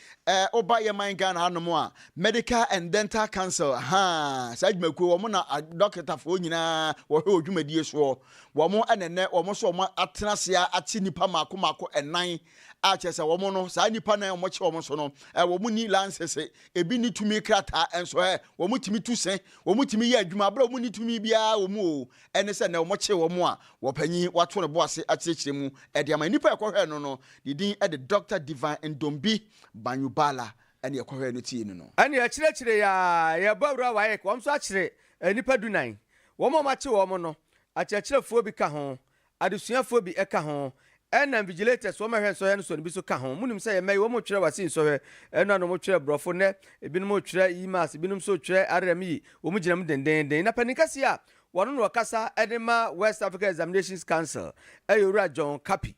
woba yɛ man Ghana hanom a Medical and Dental Council haa saa dwumakuo wɔn na dɔketafoɔ nyinaa wɔhwɛ wɔ dwumadie soɔ wɔn ɛna nɛ wɔn nso wɔn atena aseɛ akye nipa mako mako ɛnan a kyerɛ sɛ wɔn no saa nipa nan wɔn kye wɔn so no wɔn ni lansese ebi ni tumi krataa nso ɛ wɔn tumi tu se wɔn tumi yɛ adwuma abira wɔn ni tumi biara wɔn o ɛne sɛ nnɛ wɔkyere wɔn a wɔpanyin, wɔato ne bo ase akyerɛkyerɛ mu de ama nnipa a ɛkɔhwɛɛ no no. Ne din de Dɔkta Divine Ndombi Banyubala ɛne ɛkɔhwɛɛ no tiee no no. Ɛne akyerɛkyerɛ yi a yɛrebɔ awura WAEC, wɔn nso akyere nnipa dunan. Wɔn a wɔakye wɔn no, akyerɛkyerɛfoɔ bi ka ho, adesuafoɔ bi ka ho, ɛna invigilators, wɔn a ɛhwɛ nsɔhwɛ no so no bi nso ka ho. Monim sɛ yɛn mma yi, wɔn retwerɛ Wasi nsɔhwɛ, ɛno ano wɔtwerɛ Borɔfo nnɛ, ebinom retwerɛ Imas, ebinom nso retwerɛ Arem yi, wɔgyina mu dendeenden. Na panin kɛseɛ a Wɔno na ɔkasa de ma West Africa Examinations Council yɛ Owura John Kapi.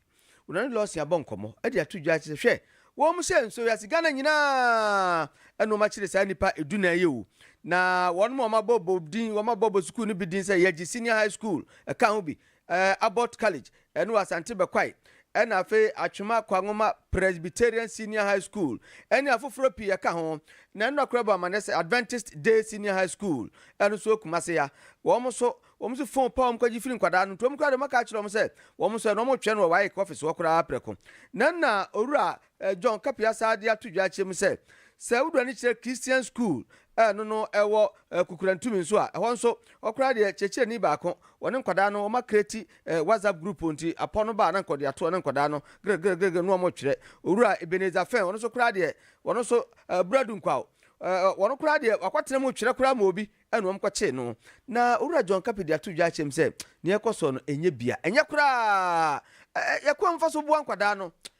Ɔne Lawson abɔ nkɔmmɔ de ato dwa sɛ hwɛ wɔn sɛ nso wiase Ghana nyinaa na wɔakyere saa nnipa dunan yi o. Na wɔnom a wɔabɔ bɔ din, wɔabɔ bɔ sukuu no bi din sɛ Yagye Senior High School, ɛka ho bi, Ɛɛ Abbot College ɛne wɔ Asante Bɛkwae ɛna afei Atwema Kwangoma Presbyterian Senior High School ɛne afoforɔ pii ɛka ho. Na ɛno na kora bɔ amanneɛ sɛ Adventist Day Senior High School ɛno nso wɔ Kumase ya. Wɔn nso wɔn nso phone pa wɔn kɔgye firi nkwadaa no nti wɔn koraa deɛ wɔaka akyerɛ wɔn sɛ wɔn nso ɛno wɔretwɛn no wɔ WAEC office hɔ koraa prɛko. Na ɛna Owura John Kapia saa de ato dwa akyerɛ mu sɛ, Sɛ wode w'ani kyerɛ Christian School a ɛno no ɛwɔ Kukurantumi nso a, ɛhɔ nso ɔkoraa deɛ kyerɛkyerɛni baako, wɔne nkwadaa no wɔma creati WhatsApp group nti apɔ no ba a na nka ɔde ato ɔne nkwadaa no grgrgr na wɔn twerɛ. Owura Ebenezer Fɛn ɔno nso koraa deɛ ɔno nso Abura Dunkwaw wɔn koraa deɛ wakɔtena mu twerɛ koraa ma obi na wɔn kɔkyee no. Na Owura John Kapi de ato dwa akyerɛ mu sɛ, Nea ɛkɔ soɔ no ɛnyɛ bia, ɛnyɛ koraa a yɛkwan mfa so boa nkwadaa no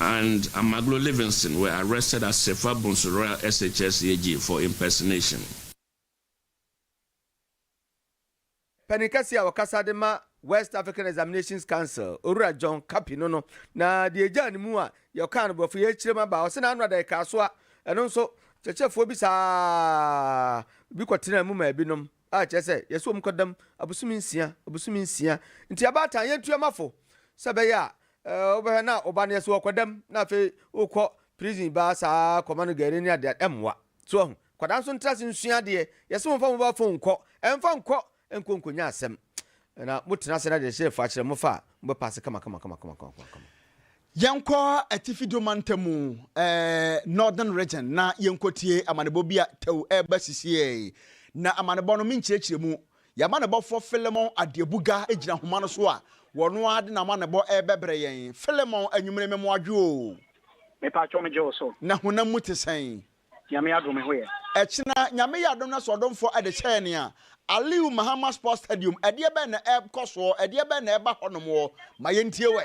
and Amaglo Livingston were arrested as Sefwa Bonsu Royal SHS AG for impersonation. Panin kɛseɛ a ɔkasa de ma West African Examinations Council, Owura John Kapi no no, na deɛ ɛgyaa ne mu a deɛ ɔkaa no borɔfo yɛ akyire mu aba. Ɔse n'ano ada ɛkaa so a, ɛno nso, kyerɛkyerɛfoɔ bi saa bi kɔtenaa mu maa binom. a kyerɛ sɛ yɛso wɔn kwadam abosome nsia, abosome nsia. Nti abaatan yɛntua ma fo sɛ ɛbɛyɛ a eh, wobɛhwɛ na ɔba no yɛso ɔkwadam na afei wokɔ prison baa saa kɔma no gari ne adeɛ ɛmmoa. So ahu? Kwadaa nso ntra ase nsua adeɛ. Yɛse mo mfa mo ba fon nkɔ, ɛmfa nkɔ nkɔ nkonya asɛm. Na motena ase na deɛ hyɛ fo akyerɛ mo fa a, mobɛpaase kama kama kama kama kama kama. Yɛnkɔ Atifi Dome Mantam mu, Northern Region, na yɛnkɔtie amanebɔ bi a tɛw reba sisiɛi. Na amanebɔ no, me nkyerɛkyerɛ mu. Yɛn amanebɔfoɔ Philemon Adeabuga gyina nhoma no so a wɔn ara de n'amanebɔ rebɛbrɛ yɛn. Philemon, anwummere me mmoadwo o. Me paatwɔ me gye wo so. Na honam mu te sɛn? Nyame yɛ adom me ho yɛ. Ɛkyena Nyame yɛ adom na soɔdomfoɔ de kyɛɛ nea Aliu Mahama Sports Stadium, ɛdeɛ bɛn na ɛrekɔ soɔ, ɛdeɛ bɛn na ɛreba hɔnom ɔ? Ma yɛntie wɛ.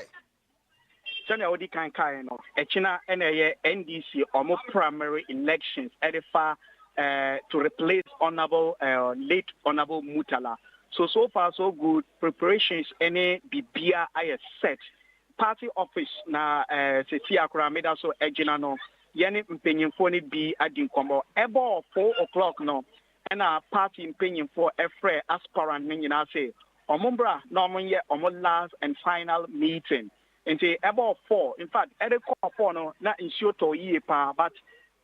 Sɛnea odi kan kae no, ɛkyena na ɛyɛ NDC wɔn primary elections de fa eh, to replace honourable eh, late honourable Mutala. So so far so good, preparations ne bibia ayɛ set. Party office na eh, sisi akora meda so agyina no. Yɛne mpanyinfoɔ no bi adi nkɔmmɔ. Ɛbɔ four o'clock no, Ɛnna party mpanimfoɔ frɛɛ aspirant no nyinaa se wɔmmra na wɔnyɛ wɔn last and final meeting. Nti ɛbɔɔ four, in fact ɛrekɔ four no na nsuo tɔɔ yie paa but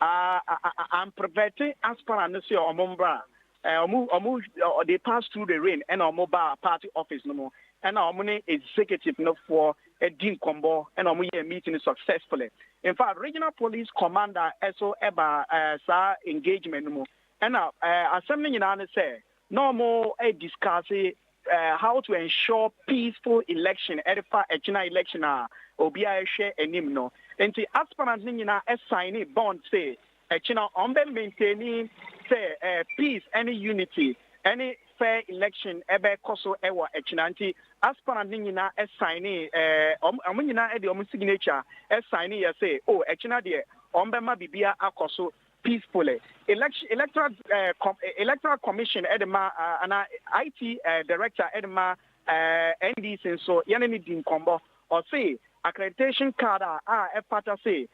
amprevɛte aspirant no se wɔmmra. Wɔn wɔn they passed through the rain ɛnna wɔbaa party office no mu. Ɛnna wɔn ne executive no foɔ di nkɔmmɔ ɛnna wɔyɛɛ meeting no successfully. In fact regional police commander nso baa saa engagement no mu. Ɛna asɛm no nyinaa ne sɛ na ɔmo discusse how to ensure peaceful election ɛde fa ɛkyina election a obiaa ɛhwɛ anim no. Nti aspirant no nyinaa signee bond se ɛkyina ɔmo bɛ maintaini sɛ peace ɛne unity ɛne fair election ɛbɛ kɔso ɛwɔ ɛkyina. Nti aspirant no nyinaa signee ɔmo nyinaa ɛde ɔmo signature signee yɛ se oh ɛkyina deɛ ɔmo bɛma bibia akɔso Peace Pole, Election Electoral Com Electoral Commission de ma anaa IT Director de ma NDC nso yɛne no di nkɔmmɔ. Ɔse accreditation card a a ɛfata se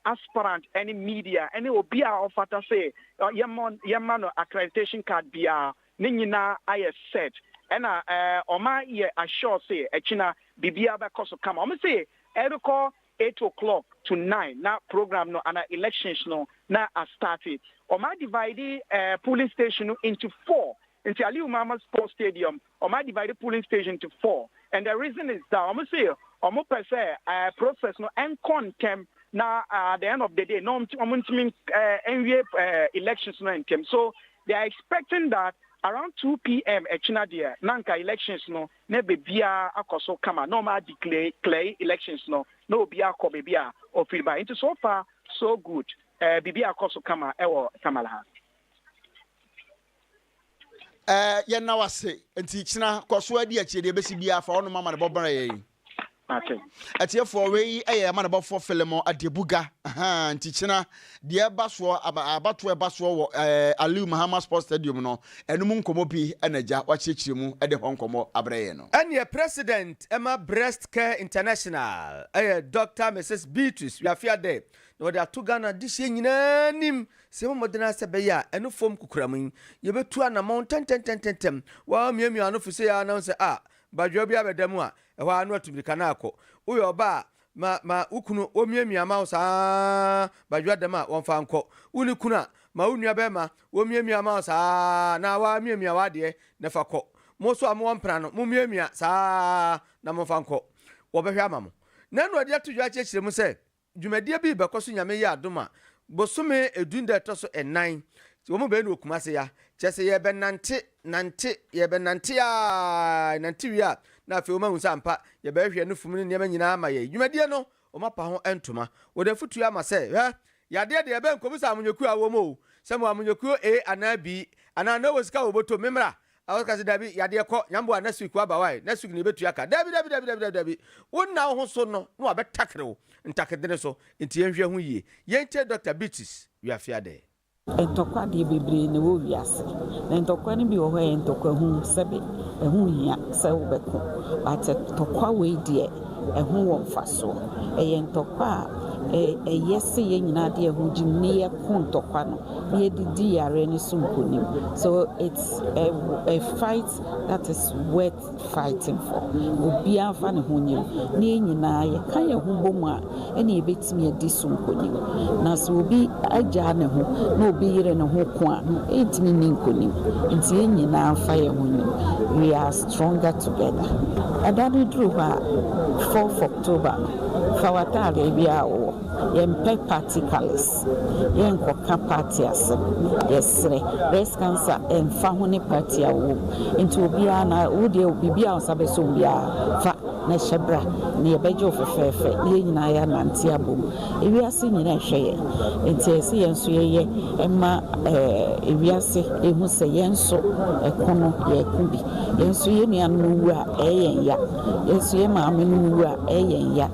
aspirant ne media ne obi a ɔfata se yɛmmɔ yɛmma no accreditation card biara ne nyinaa ayɛ set ɛna ɔma yɛ assure se akyina biribiara bɛkɔ so kama. Ɔmo se ɛrekɔ eight o clock to nine na program no anaa elections no na a starte. Wɔn a divide ɛɛ polling station no into four nti Aliu Mahama sports stadium wɔn a divide polling station into four and the reason is that wɔn se wɔn pɛ sɛ ɛɛ process no ɛnkɔ ntɛm na at the end of the day na wɔn wɔn ntumi ɛɛ ɛnwie ɛɛ elections no ntɛm so they are expecting that around two pm ɛkyina deɛ na nka elections no na bebiaa akɔ so kama na ɔmo a declare elections no na obiaa kɔ bebi a ɔfiri bae nti so far so good eh biribiaa kɔ so kama wɔ Tamale ha. Eh yɛnna wase nti kyena kɔso adi akyire deɛ ɛbɛsi biaa fa wɔnom amane bɔ bra yɛn. Ate. Atiefoɔ, wei yɛ yɛn amanebɔfoɔ Filemon Adebuga, ahaa, nti kyena deɛ ɛba soɔ, aba, abatoɔ ɛba soɔ wɔ ɛɛ Aliu Mahama Sports Stadium no, ɛno mu nkɔmmɔ pi ɛna gya wakyerɛkyerɛ mu ɛde hɔ nkɔmmɔ abrɛ yɛn no. Ɛneɛ President ɛma Breast Care International ɛyɛ Doctor Mrs Beatrice Wiafiade na wɔde ato Ghana dehyeɛ nyinaa anim sɛ yɛbɔ mmɔden ara sɛ ɛbɛyɛ a ɛno fam kokoram yi yɛbɛtu anamɔn ntɛntɛntɛntɛntɛm, wɔamiamia ano fisei ara na wohu sɛ ah, badwoa bi abɛda mu a Ɛhɔ ara na watu mmirika na akɔ. Woyɛ ɔbaa a, ma ma wo kunu ɔmmiamia mma wo saa badwoa dɛm a wɔmfa nkɔ. Wo ne kunu a, ma wo nuabarima ɔmmiamia mma wo saa na woara miamia w'adeɛ na fa kɔ. Mo nso a mowɔ mpena no, mommiamia saa ara na momfa nkɔ. Wɔbɛhwɛ ama mo. Nanu Adiato-Dwa kyerɛkyerɛ mu sɛ. Dwumadie bi rebɛkɔ so Nyame yɛ adom a, bosome du da ɛtɔ so nnan, wɔn bɛyɛ no wɔ Kumase ya. Kyerɛ sɛ yɛrebɛnante, nante, yɛrebɛnante aa, yɛnante wie a, na afei wɔahu sɛ ampa, yɛbɛhwehwɛ no fum ne nneɛma nyinaa ama yɛn. Dwumadie no, wɔapa ho ntoma. Wɔde afotuo ama sɛ, Hwɛ! Yadeɛ deɛ, bɛnkɔbisa amanyɔkuo a wɔwɔ mu o, sɛ mewɔ amanyɔkuo A anaa B, anaa na wɔwɔ sika wɔ wɔn bɔtɔ mu, memmra, A ɔka sɛ, Dabi, yadeɛ kɔ, nyamboa, next week waba wai, next week na yɛbɛtua ka. Dabi, dabi, dabi, dabi, dabi, dabi. Wo nna wo ho so no na wabɛtakere wo ntakedene so. Nti yɛnhwɛ ho yie. Yɛntie Dɔkta Beatrice Wiafeadɛɛ. Ntɔkwa deɛ bebree na ɛwɔ wiase na ntɔkwa no bi wɔ hɔ a ɛyɛ ntɔkwa hunu sɛbe ɛho hia sɛ wobɛko but ntɔkwa wei deɛ ɛho wɔ mfasoɔ ɛyɛ ntɔkwa a ɛyɛ sɛ yɛn nyinaa de yɛn ho gyim ne yɛko ntɔkwa no yɛde di yareɛ no so nkonim so it's a, a fight that is worth fighting for obiara fa ne ho nyɛ mu na yɛn nyinaa yɛka yɛn ho bɔ mu a ɛna yɛbɛtumi adi so nkonim na sɛ obi agyaa ne ho na obi yere ne ho ko a ɛntumi ni nkonim nti yɛn nyinaa fa yɛn ho nyɛ mu we are stronger together ɛda no duru hɔ a 4th October no fa w'ataadeɛ biara wɔ yɛmpɛ party colors ase yɛnkɔ ka party ase yɛsrɛ breast cancer ɛnfa ho ne party a ɔwɔ mu nti obiara na wo deɛ biribi a ɔsa bɛsɔ obiara fa na ɛhyɛ bra na yɛbɛgye wo fɛfɛɛfɛ na yɛn nyinaa yɛ anante abom ewiase nyinaa ɛhwɛ yɛn nti ɛsɛ yɛn nso yɛyɛ ɛma ɛɛ eh, ewiase ehu sɛ yɛn nso ɛko no yɛko bi yɛn nso yɛn nuanom wu a ɛyɛ yɛn ya. Yɛnso yɛn maame nom wu a ɛyɛ yɛn ya,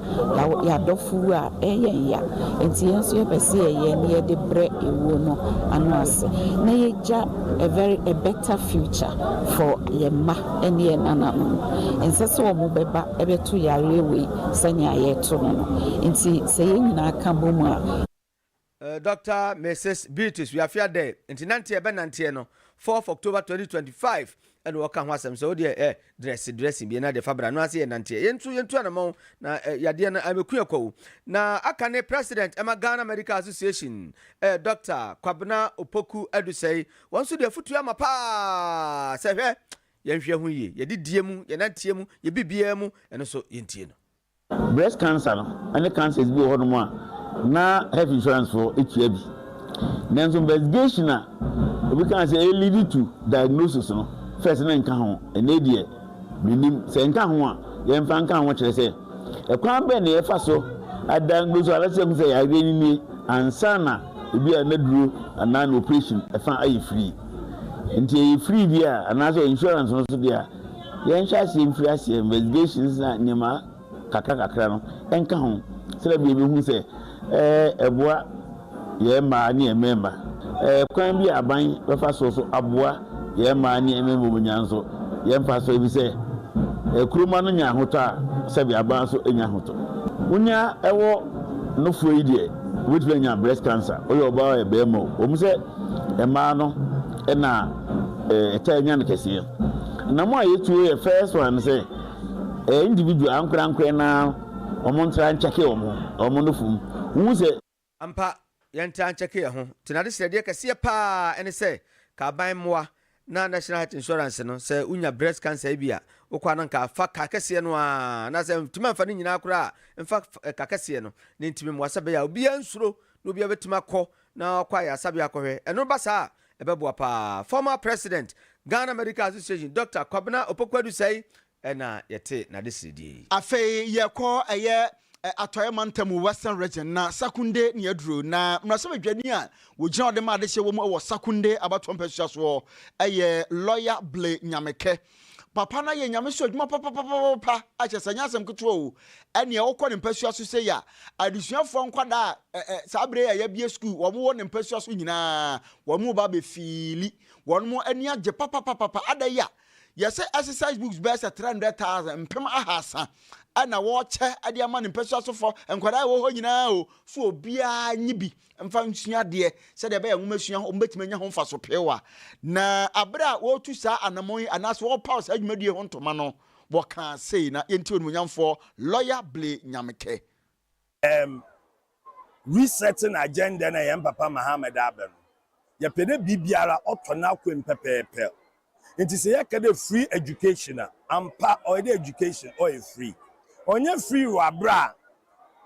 yɛn adɔfo wu a ɛyɛ yɛn ya, nti yɛnso yɛpɛ sɛ yɛyɛ na yɛde brɛ ewuo no ano ase na yɛgya a very a better future for yɛn mma ɛne yɛn nananom. Ɛnsɛ sɛ wɔn bɛba ɛbɛto yareɛ wei sɛnea yɛto no no, nti sɛ yɛn nyinaa ka bɔ mu a. Dɔkta Mrs Beatrice Wiafi-Adei nti nanteɛ ɛbɛnanteɛ no fourth October twenty twenty five ɛna wɔka ho asɛm sɛ wodeɛ ɛ dress dressing bie na deɛ fa bra no ase yɛ nanteɛ yɛn nso yɛntu anamɔn na ɛ yadeɛ no ɛbɛku yɛ kwawu na aka ne president ɛma Ghana Medical Association ɛ Dɔkta Kwabena Opoku Adusɛi wɔn nso de afutuo ama paa sɛ hwɛ yɛnhwɛ ho yie yɛde die mu yɛnanteɛ mu yɛ biribiara mu ɛno nso yɛntie no. Breast cancer no ne cancers bi wɔ hɔ nom a na health insurance foɔ tua bi. Nanso investigation a obi kaa sɛ e lead to diagnosis no first no nka ho. Ɛnɛ deɛ me nim. Sɛ ɛnka ho a yɛn nfa nka ho kyerɛ sɛ ɛkwan bɛn na yɛfa so a diagnose anasɛ yɛhu sɛ yareɛ no nie ansa na ebi a naduro anaa na operation ɛfa ayɛ free. Nti ɛyɛ free deɛ a anaasɛ insurance no so deɛ a Yɛnhyɛ aseɛ mfiri aseɛ investigations na nneɛma kakra kakra no nka ho sɛdeɛ bia yɛbɛhu sɛ ɛboa yɛn mmaa ne yɛn mmarima. Kwan bi a aban bɛfa so so aboa yɛn mmaa ne yɛn mmarima wɔnya nso yɛ mfa so ɛfiri sɛ kuroma no nya ahotɔ a sɛbi aban nso nya ahotɔ. Wonya ɛwɔ nofoɔ yi deɛ wobɛtumi anya breast cancer woyɛ ɔbaa woyɛ barima o wɔn sɛ Mmaa no na ɛtaa nya no kɛseɛ. Na mo a yɛtuo yɛ first one no sɛ ɛyɛ individual ankorankorɛ no ara wɔn ntra nkyɛke wɔn ho, wɔn no fom. Wohu sɛ. Ampa, yɛntra nkyɛke yɛn ho. Nti n'adesrɛdeɛ kɛseɛ pa ara ne sɛ, ka aban mmoa na national health insurance no sɛ wonya breast cancer ebi a wokɔ na nka fa ka kɛseɛ no a na sɛ ntumi amfa no nyinaa koraa mfa ka kɛseɛ no ne ntumi mmoa sɛ bɛyɛ a obiara nsuro na obiara bɛtumi akɔ na ɔkɔ ayaresabea akɔhwɛ ɛno ba saa ɛbɛboa paa former president Ghana Medical Association Dr. Kwabena Opoku Adusai na yɛtee n'adesedeɛ yi. Afei yɛkɔ ɛyɛ Atɔeɛ Mantam, Western Region, na Sakunde ne yɛduru. Na mmarahyɛbadwani a wɔgyina hɔ de ma adehyeɛ wɔ mu wɔ Sakunde abatoɔ mpasua soɔ yɛ Lɔya Ble Nyamekɛ. Papa no ayɛ Nyame so adwuma papapapapa a kyerɛ sɛ ɛnyɛ asɛm ketewa o. Ɛnneɛ wokɔ ne mpasua so sei a, adesuafoɔ nkwadaa a saa berɛ yi a yɛabue sukuu wɔn wɔ ne mpasua so nyinaa, wɔn reba abɛfiili. Wɔn ani agye papapapapa. Adɛn a Yɛse exercise books bɛyɛ sɛ 300,000, mpem ahaasa, ɛna wɔkyɛ de ama ne mpasua sofɔ, nkwadaa a ɛwɔ hɔ nyinaa o, so obiara nye bi mfa nsua adeɛ sɛdeɛ ɛbɛyɛ nwomasua wɔn bɛtumi anya ho mfaso peew a. Na abere a wɔretu saa anamɔn yi anaasɛ wɔrepaw saa dwumadie ho ntoma no, wɔkaa sei na yɛntie Onimuonyamfoɔ Lɔya Blay Nyamekɛ Ɛɛm resetting agenda no a yɛn papa Muhammad aba no, yɛpɛ dɛ biribiara ɔtɔ n'akwan pɛpɛɛpɛr. Ntsi sɛ yɛka dɛ free education a, ampa ɔyɛ dɛ education ɔyɛ free. Ɔnnyɛ free wɔ aber a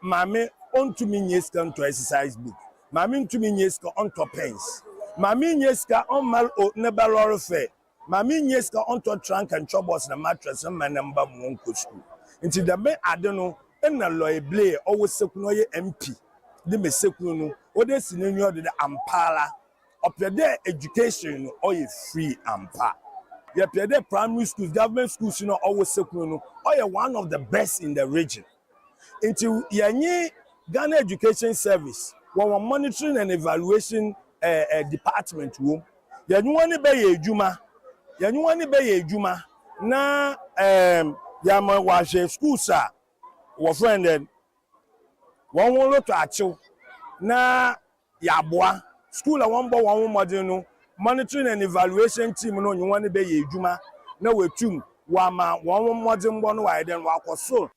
maame onntum nnya sika nntɔ exercise book, maame nntum nnya sika ɔnntɔ pens, maame nnya sika ɔmmar o ne ba lɔre fare. Maame nnya sika ɔntɔ trunk and chobos na mattress mma ne mba ma wɔnkɔ skuul. Ntsi dɛm adze no nna Loy Blair, ɔwɔ Seku na ɔyɛ MP, dze ma Seku no, ɔdze esi n'enyiwa do dɛ ampaara ɔpɛ dɛ education no ɔyɛ free ampa. Yɛpɛ dɛ primary schools, government schools no a ɔwɔ Seku no, ɔyɛ one of the best in the region. Nti yɛnye Ghana Education Service wɔ hɔn Monitoring and Evaluation Department wɔ mu, yɛnye hɔn bɛyɛ edwuma, yɛnye hɔn bɛyɛ edwuma na yɛama wɔahwɛ skuuls a wɔfrɛ no dɛn, hɔnho rotɔ akyew na. Yɛaboa skuul a wɔbɔ hɔnho mbɔdzen no Monitoring and Evaluation Team no nye hɔn bɛyɛ edwuma na woetum wɔama hɔnho mbɔdzembɔ no wɔayɛ dɛn, wɔakɔ sor.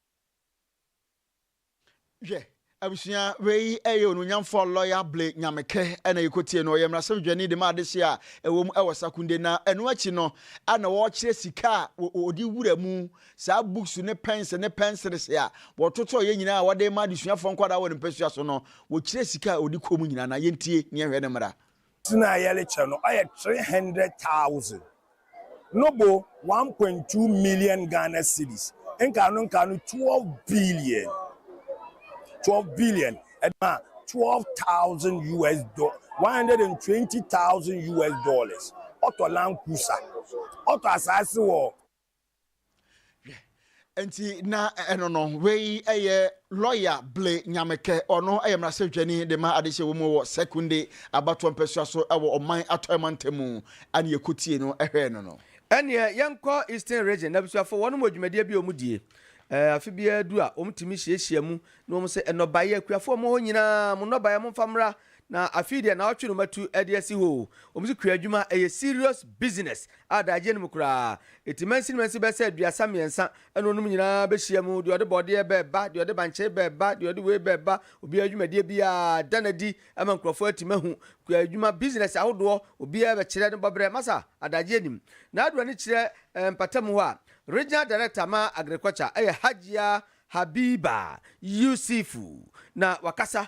Hwɛ, abusua, wei yɛ Onuonyamfoɔ Lɔya Blay Nyamekɛ na yɛkɔtiee no. Ɔyɛ Mmarahyɛ Badwani de ma adehyeɛ a ɛwɔ mu wɔ Sakunde, na ɛno akyi no na ɔrekyerɛ sika a wɔde wura mu Saa books ne pens ne pencils a wɔtotɔɔ yɛ nyinaa a wɔde rema adesuafoɔ nkwadaa wɔ ne mpasua so no, wɔkyerɛ sika a ɔde kɔ mu nyinaa na yɛntie na yɛnhwɛ ne mmara. Sin a yɛrekyɛ no ɔyɛ three hundred thousand no bo one point two million Ghana cedis nkaano nkaano twelve billion twelve billion ɛde ma twelve thousand US do one hundred and twenty thousand US dollars ɔtɔ Land Cruiser ɔtɔ asaase wɔ Hwɛ, nti na ɛno no, wei yɛ lɔya Ble Nyamekɛ, ɔno yɛ mmarahyɛbadwani de ma adehyɛ wɔ mu wɔ Sekondi abatoɔ mpɛsoa so wɔ Ɔman Atɔeɛ mantam mu, ɛna yɛkɔtiee no hwɛɛ no no. Ɛnneɛ yɛnkɔ Eastern Region, n'abusuafoɔ, wɔnom wɔ dwumadie bi a wɔdie. Afe biara du a, wɔtumi hyiahyia mu na wɔse, Nnɔbaeɛ, akuafoɔ a mo wɔ hɔ nyinaa, mo nnɔbaeɛ momfa mmra Na afei deɛ naawɔtwe no matu de asi hɔ o. Wɔn so kua adwuma ɛyɛ serious business a daagyeɛ no mu koraa ɛti mansin mansin bɛsɛ aduasa mmiɛnsa ɛna wɔnom nyinaa bɛhyia mu deɛ ɔde bɔɔdeɛ bɛɛba deɛ ɔde bankyee bɛɛba deɛ ɔde wei bɛɛba obiara dwumadie biara da no adi ama nkurɔfoɔ atim ahu kua adwuma business ahodoɔ obiara bɛkyerɛ ne bɔberɛ masa adagyeɛ nim na adu ani kyerɛ ɛɛ mpatamu hɔ a Regional Director ma Agriculture ɛyɛ Hajia Habiba Yusifu na wakasa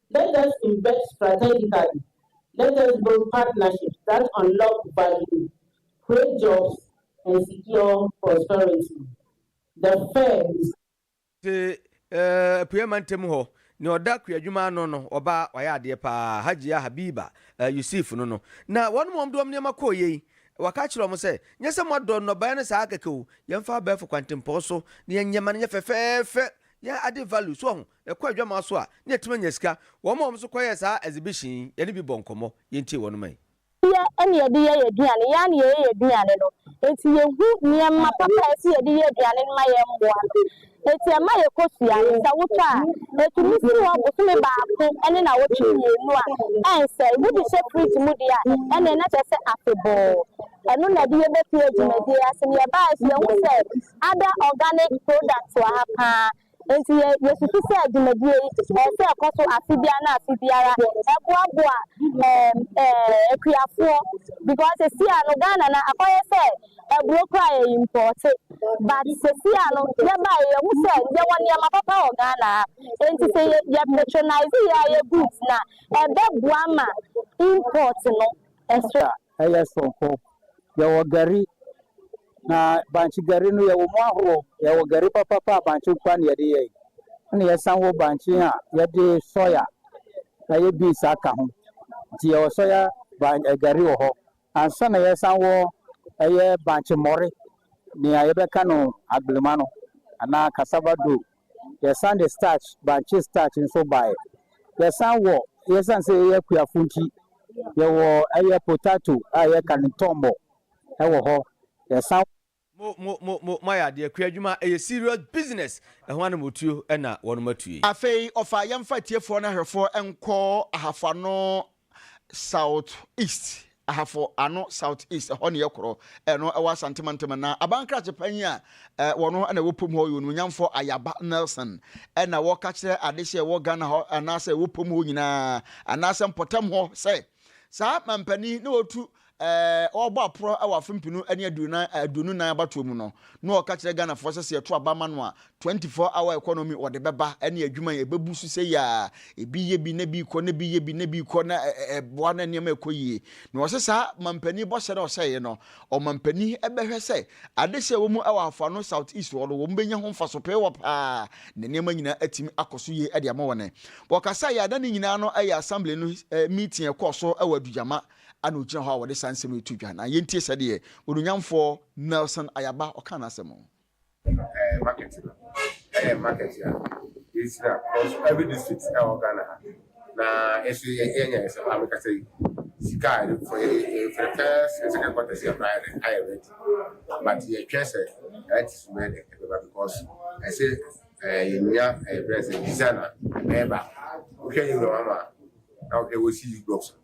Let us invest strategically, let us build partnerships that unlock value, create jobs and secure prosperity. The Fed. Te Apueɛ Mantam hɔ, nea ɔda kuadwuma ano no, ɔbaa wayɛ adeɛ paa, Hajia Habiba Yusif no no. Na wɔn wɔn de wɔn nneɛma kɔeɛ yi, waka akyerɛ wɔn sɛ, Nyɛ sɛ moadɔ nnɔbaeɛ no saa kɛkɛ o, yɛmfa abɛɛfo kwantempɔn so na yɛnyɛ ma no nyɛ fɛfɛɛfɛ, yɛn ade value, so wahu? Ɛkɔ adwammaa so a, na yɛtumi anya sika. Wɔn a wɔn nso kɔyɛɛ saa exhibition yi, yɛne bi bɔɔ nkɔmmɔ. Yɛntie wɔn mma yi. Yɛyɛ na yɛde yɛ yɛn aduane, yɛn ara na yɛyɛ yɛn aduane no. Enti yɛhu nneɛma papa a ɛsɛ yɛde yɛ aduane no ma yɛn mmoa no. Enti ɛma yɛkɔ sua no. Sɛ wotɔ a, ɛtumi si hɔ bosome baako ne nnawɔtwe mmienu a ɛnsɛe. Wode hyɛ fridge mu deɛ a, ɛnneɛ na kyerɛ sɛ afebɔɔ. Ɛno na yɛde yɛ bɛfie dwumadie ase. Na yɛbaeɛ nso, yɛhu sɛ other organic products wɔ ha pa ara. Enti yɛ, yɛsusu sɛ dwumadie yi, ɛsɛ sɛ ɛkɔ so afe biara ne afe biara, ɛboaboa ɛɛm, ɛɛm, akuafoɔ, because sɛsi a no Ghana no akɔyɛ sɛ aburo koraa yɛ impɔɔte, but sɛsi a no yɛbaeɛ yɛhu sɛ yɛwɔ nneɛma papa wɔ Ghana ha, enti sɛ yɛ, yɛ patronise yɛ ara yɛ goods no a, ɛbɛboa ma import no, ɛso. Sɛ ɛyɛ soronko, yɛwɔ gari, Na bankye gari no yɛwɔ mu ahoroɔ. Yɛwɔ gari papapa a bankye nko ara na yɛde yɛ. Ɛna yɛsan wɔ bankye a yɛde sɔya ɛyɛ beans aka ho. Nti yɛwɔ sɔya ban ɛ gari wɔ hɔ. Ansa na yɛsan wɔ ɛyɛ bankye mmɔre, nea yɛbɛka no agblemma no anaa cassava dough. Yɛsan de starch, bankye starch nso baeɛ. Yɛsan wɔ, yɛsiane sɛ yɛyɛ akuafoɔ nti, yɛwɔ ɛyɛ potato a yɛka no ntɔmmɔ. wɔ hɔ yɛsan. Mo mo mo mo moayɛ adeɛ kua adwuma ɛyɛ serious business ɛho ana motuo ɛna wɔnom atue. Afei ɔfa yɛmfa atiefoɔ no ahwɛfoɔ nkɔ ahafo ano south east ahafo ano south east ɛhɔ ne yɛkorɔ ɛno ɛwɔ asante mantam na abankrakye panyin a wɔno na ɛwɔ pom hɔ ɔyɛ onuonyamfoɔ ayaba nelson ɛna wɔka kyerɛ adehye ɛwɔ ghana hɔ anaasɛ ɛwɔ pom hɔ nyinaa anaasɛ mpɔtam hɔ sɛ Saa mampanin yi na ɔtu ɛɛ ɔbɔ aporɔ wɔ afe mpenu ne aduonan aduonu nan abatoɔ mu no na ɔka kyerɛ Ghanafoɔ sɛ sɛ yɛto aba ma no a 24 hour economy wɔde bɛba ɛne adwuma yi ɛbɛbu so sɛ yia ebi yɛ bi na bi kɔ na bi yɛ bi na bi kɔ na ɛboa na nneɛma ɛkɔ yie na ɔsɛ saa mampanin bɔhyɛ na ɔhyɛeɛ no Ɔmanpanin bɛhwɛ sɛ adehye a ɛwɔ mu wɔ Afua North South East hɔ no wɔbɛnya ho mfaso pee hɔ pa ara na nneɛma nyinaa atumi akɔ so yie de ama wɔn. Wɔkasaeɛ a, na ne nyinaa no yɛ Assembly no meeting a ɛkɔɔ so wɔ Adugyama a na ɔgyina hɔ a wɔde saa nsɛm yi to dwa. Na yɛntie sɛdeɛ Onuonyamfoɔ Nelson Ayaba ɔkaa n'asɛm. ɛɛ market no ɛyɛ market a yɛhyira because every district ɛwɔ Ghana ha na ɛso yɛ yɛnyɛ ɛsɛ hɔ a mekasa yi sika a yɛde for yɛ for the first and second quarter sɛ ɛkora yɛde ayɛ ready but yɛtwɛ sɛ ɛte so bɛyɛ dɛ ɛbɛba because ɛsɛ ɛɛ yɛnya ɛɛ brɛ sɛ design a ɛbɛyɛ baako wohwɛ yɛ wura wɔn a na wohwɛ wɔsi yi blocks no.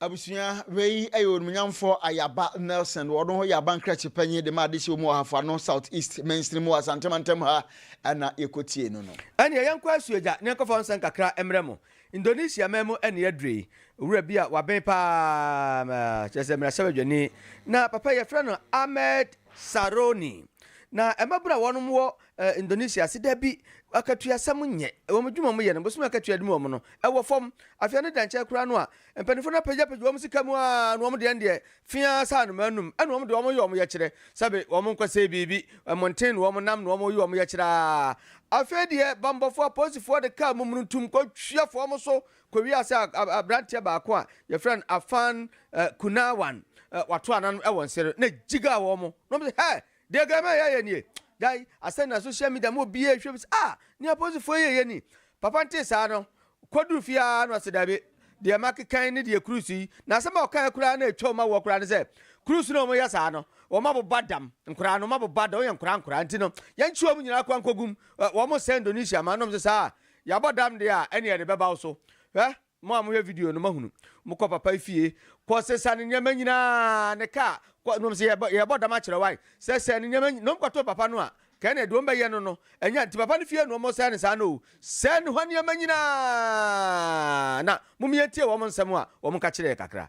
Abusua wei yɛ Onimnyamfo Ayaba Nelson, ɔno yɛ abankrakye panyin de ma adehyew mu ɔhafo ano South East mansini mu wɔ Asante mantam ha na yɛkɔtiee no no. Ɛneɛ yɛnkɔ Asuagya na yɛnkɔfa ɔnsɛ nkakra mmrɛ mo. Indonesia man mu ne yɛaduru yi. Owura bi a waben pa ara, kyerɛ sɛ mmarahyɛbadwani, na papa yi yɛfrɛ no Ahmed Saroni. Na mmabunu a wɔnom wɔ Ɛ Indonesia ase da bi akatua sɛm nyɛ wɔn adwuma wɔn yɛ no bosome akatua dum wɔn no ɛwɔ fam afei ɛno da nkyɛn koraa no a mpaninfoɔ no apagya pagya wɔn sika mu aa na wɔn deɛ no deɛ feaa sɛ anomaa num ɛna wɔn deɛ wɔn yɛ wɔn yɛkyerɛ sɛbe wɔn nkɔ sɛe biribi ɛmonten na wɔn nam na wɔn yɛ wɔn yɛkyerɛ aa afei deɛ bambɔfoɔ apolisifoɔ de kaa mummununtum kɔ hwia fa wɔn so kɔ wia sɛ abranteɛ baako a yɛfrɛ no afan ɛ kunawan ɛ wato anan ɛwɔ nsere na gyigaa wɔn na wɔn sɛ hɛ Deɛ Grandma yi ayɛ nie dan asɛm na social media ma obiara hwɛ hu sɛ ah nea apolisifoɔ yi reyɛ ni. Papa no tee saa no, kɔduru fie ara na ɔse dabi, deɛ makekan ne deɛ Cruz yi, na asɛm a ɔkaeɛ koraa na ɛtwa wɔn awoɔ koraa ne sɛ, Cruz na wɔyɛ saa no, wɔabobɔ dam, nkoraa no wɔabobɔ dam, wɔyɛ nkoraa nkoraa nti no, yɛnkye wɔn nyinaa kwan nkɔgum, wɔsɛe Indonesia ma no, ɔse saa a, yɛabɔ dam deɛ a ɛneɛ yɛde bɛba wo so, hwɛ. Mo a mohwɛ video no moahunu. Mokɔ papa yi fie, kɔ sesa ne nneɛma nyinaa, ne car, kɔ, nom se yɛbɔ, yɛbɔ dam akyerɛ wo ae, sɛsɛ ne nneɛma nyi, nom kɔto papa no a, kɛɛ na ɛde wɔn bɛyɛ no no, ɛnyɛ, nti papa no fie na wɔsɛe no saa no o, sɛe ne hɔ nneɛma nyinaa, na mom yɛntie wɔn nsɛm a wɔn ka kyerɛɛ kakra.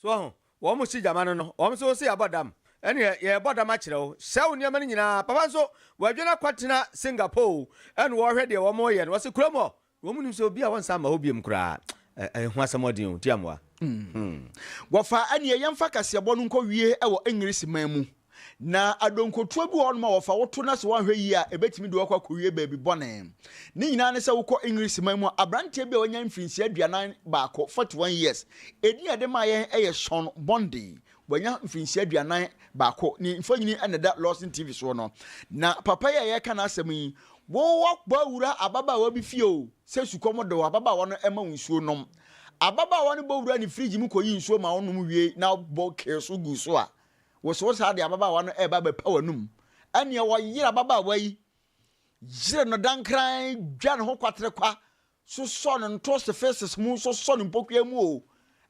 So wahu? Wɔn si gyama no no, wɔn nso se yɛabɔ dam. Ɛneɛ yɛrebɔ dam akyerɛ wo, sɛ wo nneɛma no nyinaa, papa nso wadwane akɔ tena Singapore o, ɛna wɔrehwɛ deɛ wɔn reyɛ no, wɔse kurom hɔ, wɔn nnim sɛ obi a wɔnsan mma hɔ biom koraa, ɛho asɛmɔden o, ntiamoa, hmm. Wɔfa ɛneɛ yɛmfa kaseɛbɔ no nkɔ wie wɔ Engrisi man mu. Na adonkotoa bi wɔ hɔnom a wɔfa wo to na sɛ woanhwɛ yie a ɛbɛtumi de wo akɔ akɔwie baabi bɔne. Ne nyinaa ne sɛ wokɔ Englise man mu a aberanteɛ bi a wanya mfirinhyia aduanan baako, 41 years, edin a ɛde maa yɛn yɛ Sean Bondi, wanya mfirinhyia aduanan baako, ne mfonini na ɛda Lawson TV soɔ no. Na papa yi a yɛreka n'asɛm yi, wo wakɔ awura ababaawa bi fie o, sɛ sukɔm de wo, ababaawa no ma wo nsuo nom. Ababaawa no bɔ wuraa ne fridge mu kɔyii nsuo maa wo nom wiei na bɔ kee so guu so a, Wosow saa de ababaawa no reba abɛpa w'anom. Ɛnneɛ wɔyere ababaawa yi, yere no dankran, dwa ne ho kwaterekwa, sosɔ no ntose feces mu, sosɔ no mpokua mu o,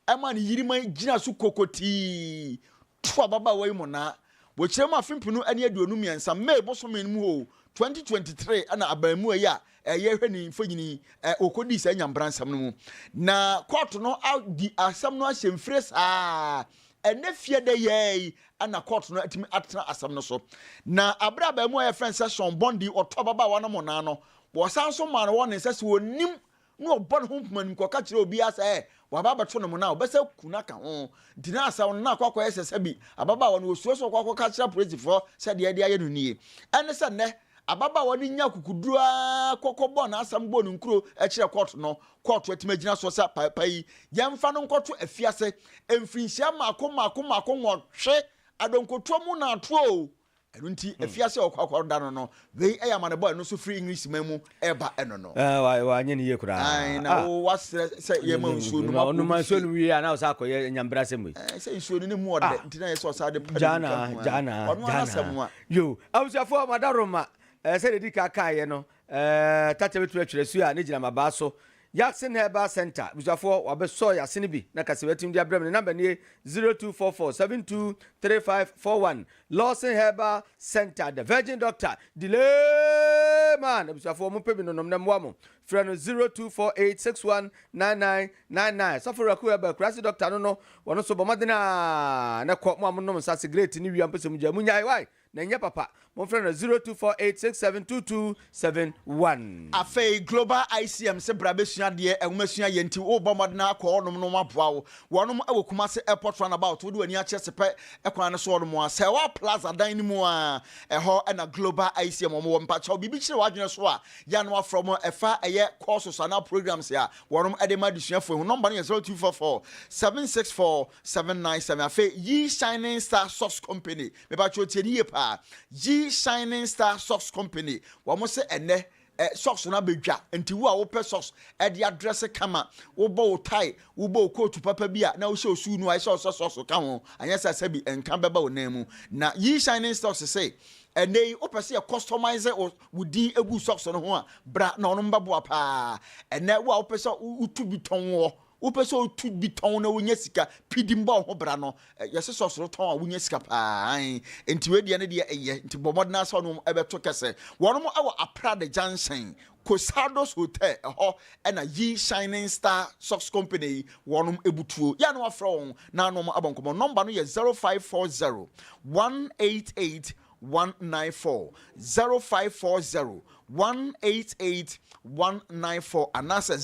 ɛma ne yiri ma gyina so kokotii, to ababaawa yi monnaa. Wɔ kyerɛ mu afe mpenu ne aduonu mmiɛnsa, May bosome no mu o, 2023 ɛna abaamua yi a ɛyɛ hwɛ ne mfonyini yi, ɛ, ɔkɔdii saa nyamebransɛm no mu. Na kɔɔto no adi asɛm no ahyɛmfire saa Ɛnnɛ fie dɛ yɛɛ yi na kɔɔto no atumi atena asɛm no so. Na bere a abaamua a wɔfrɛ no sɛ Sean Bondi ɔtoo ababaawa no mmonnaa no, wɔsan nso maa no wɔne sɛ sɛ onnim na ɔbɔ ne ho nkomanim kɔka kyerɛ obiara sɛ waba abɛto no mmonnaa a, ɔbɛsan aku no aka ho. Nti na asɛm no na akɔ akɔyɛ sɛ sɛbi ababaawa no osuro sɛ ɔkɔ akɔka akyerɛ apolisifoɔ sɛ deɛ ɛde ayɛ no nie. Ɛne sɛ nnɛ, Ababaawa no nyaa akokoduru ara kɔ kɔbɔɔ n'asɛm bɔɔ ne nkuro kyerɛɛ kɔɔto no. Kɔɔto atumi agyina soɔ sɛ papa yi, yɛmfa no nkɔto afiase mfirinhyia mmaako mmaako mmaako nwɔtwe, adɔnkotoɔ mu na atoɔ o. Ɛno nti, afiase a ɔkɔ akɔda no no, wei yɛ amanebɔ a ɛno nso firi Englishman mu reba ɛno no. Ɛɛ, wa, wanyɛ no yie koraa. Ae, na wo, wasrɛ sɛ yɛmma wo nsuo nom. Ɔnom nsuo nom wie a, na ɔsan akɔyɛ nyambrasɛm wei. Ɛɛ, sɛ nsuo no na ɛmu ɔdɛ nti na ɛyɛ sɛ ɔsan de pɛ ne mu ka ho a. Gyaa no ara, gyaa no ara, gyaa no ara. Ɔno ara n'asɛm a. Yoh. Abusuafoɔ, mo adaworoma, eh, sɛdeɛ ɛdi ka kaeɛ no, eh, Tatia bɛtumi atwerɛ su a ne gyina mmabaa so. Yasin Herbal Centre, abusuafoɔ, wɔabɛsɔ Yasin bi na kasɛ wɔatumi de abrɛ me. Ne namba nie, 0244 723541. Lawson Herbal Centre, The Virgin Doctor, Delay Man, abusuafoɔ, mopɛ bi nonom na mmoa mo. Frɛ no 0248 61 99 99. Sɔfo Raku Herbert, Kurase Dɔkta no no, wɔ no so bɔ mmɔden a na ɛkɔ, mo a mo nom nsa, sigrɛɛti ne wia mpo sɛ mo gyae, mo nyae, why? Na ɛnyɛ papa. Mo mfrɛ no 0248 67 2271. Afei Global ICM se bra bɛsua adeɛ, nwomasua yɛ nti worebɔ mmɔden ara kɔ hɔnom na wɔaboa wo. Wɔnom wɔ Kumasi Airport Roundabout, wode w'ani akyerɛ Sepɛ kwan no so hɔnom a, Sɛwa Plaza dan no mu a, ɛhɔ na Global ICM wɔn wɔ. Mpakyɛw, biribi kyere w'adwene so a, Gya no afrɛ wɔn a ɛfa ɛyɛ courses anaa programs a wɔnom ɛde ma adesuafoɔ yi ho. Nɔmba no yɛ zero two four four seven six four seven nine seven. Afei Yi Shining Star Socks Company, mepakyɛw tie no yie paa, Yi Shining Star Socks Company, wɔn se ɛnnɛ ɛ, socks no abɛdwa, nti wo a wo pɛ socks ɛde adrɛse kama, wo bɔ wo tie, wo bɔ wo coat papa bi a na wo hyɛ wo suu no a ɛsɛ sɛ ɔsɛ socks ka ho, anyɛ saa sɛbi nka bɛba wo nan mu. Na Yi Shining Stocks se ɛnnɛ yi wo pɛ sɛ yɛ customise wo wo din gu socks no ho a, bra na ɔno mbɛboa paa. Ɛnɛ wo a wopɛ sɛ wotu bi tɔn wɔ, wopɛ sɛ wotu bi tɔn na wonya sika, pidi mba wo ho bra no. Yɛse socks no tɔn a wonya sika paa, aane. Nti wei deɛ ne deɛ ɛyɛ, nti bɔ mmɔden ara sɛ wone wɔn bɛto kɛsɛ. Wɔnom wɔ Aprade Junction, Cosaldos Hotel ɛhɔ na Yi Shining Star Socks Company yi wɔnom butuo. Yɛ a na wafrɛ wɔn na wɔn abɔ nkɔmmɔ. Nɔmba no yɛ zero five four zero one eight eight 054-0540-188-194 anaasɛ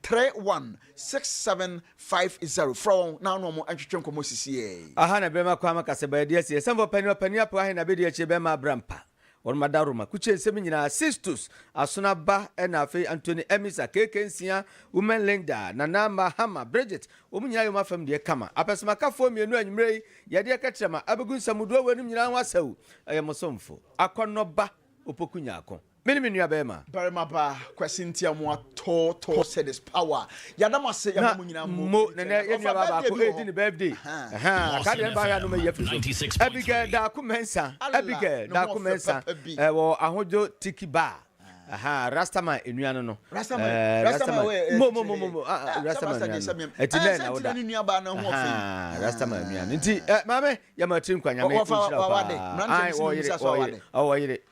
0534-316750. Frɛ wɔn na wo ne wɔn ntwetwe nkɔmmɔ sisiɛ yi. Aha na bɛma kwan ma kasabaa di asie. Sɛmfɔɔ pɛni ɔpɛni apɛ wahe na bɛdi akyire bɛma abra mpa. Wɔada Roma kukyensɛm nyinaa, Sistus, Asona ba, ɛna afei Antoni, Emisa, Keke Nsia, Women Linda, Nana mma, Hama, Bridget, wɔn nyinaa yɛ wɔn afam deɛ kama. Apɛsɛmakafoɔ mmienu anwummerɛ yi, yɛde ɛka kyerɛ ma abɛgu nsamudoɔ wei nom nyinaa ho asau. Ɛyɛ mo somfo, Akɔnnɔ ba, Opoku Nyarko. Me ne me nuabarima. Barima ba, Kwasi Ntiamoa Tɔɔ Tɔɔ Sɛ This Power Yɛda mo ase ɛma mo nyinaa mo. Mo ne ne yɛ nua ba baako edi ne birthday. Ahaa ka deɛ ne ba yɛ anum yɛ firi so. Abigail Daako Mɛnsa. Abigail Daako Mɛnsa ɛwɔ Ahodwo Tiki Bar. Ahaa Rastaman enua no no. Rastaman Rastaman mo mo mo mo Rastaman enua no. Ɛti nɛ na woda. Ahaa Rastaman enua no. Nti maame yɛ ma tiri nkwa nyame nhyira paa. Ayi wɔyere wɔyere wɔyere.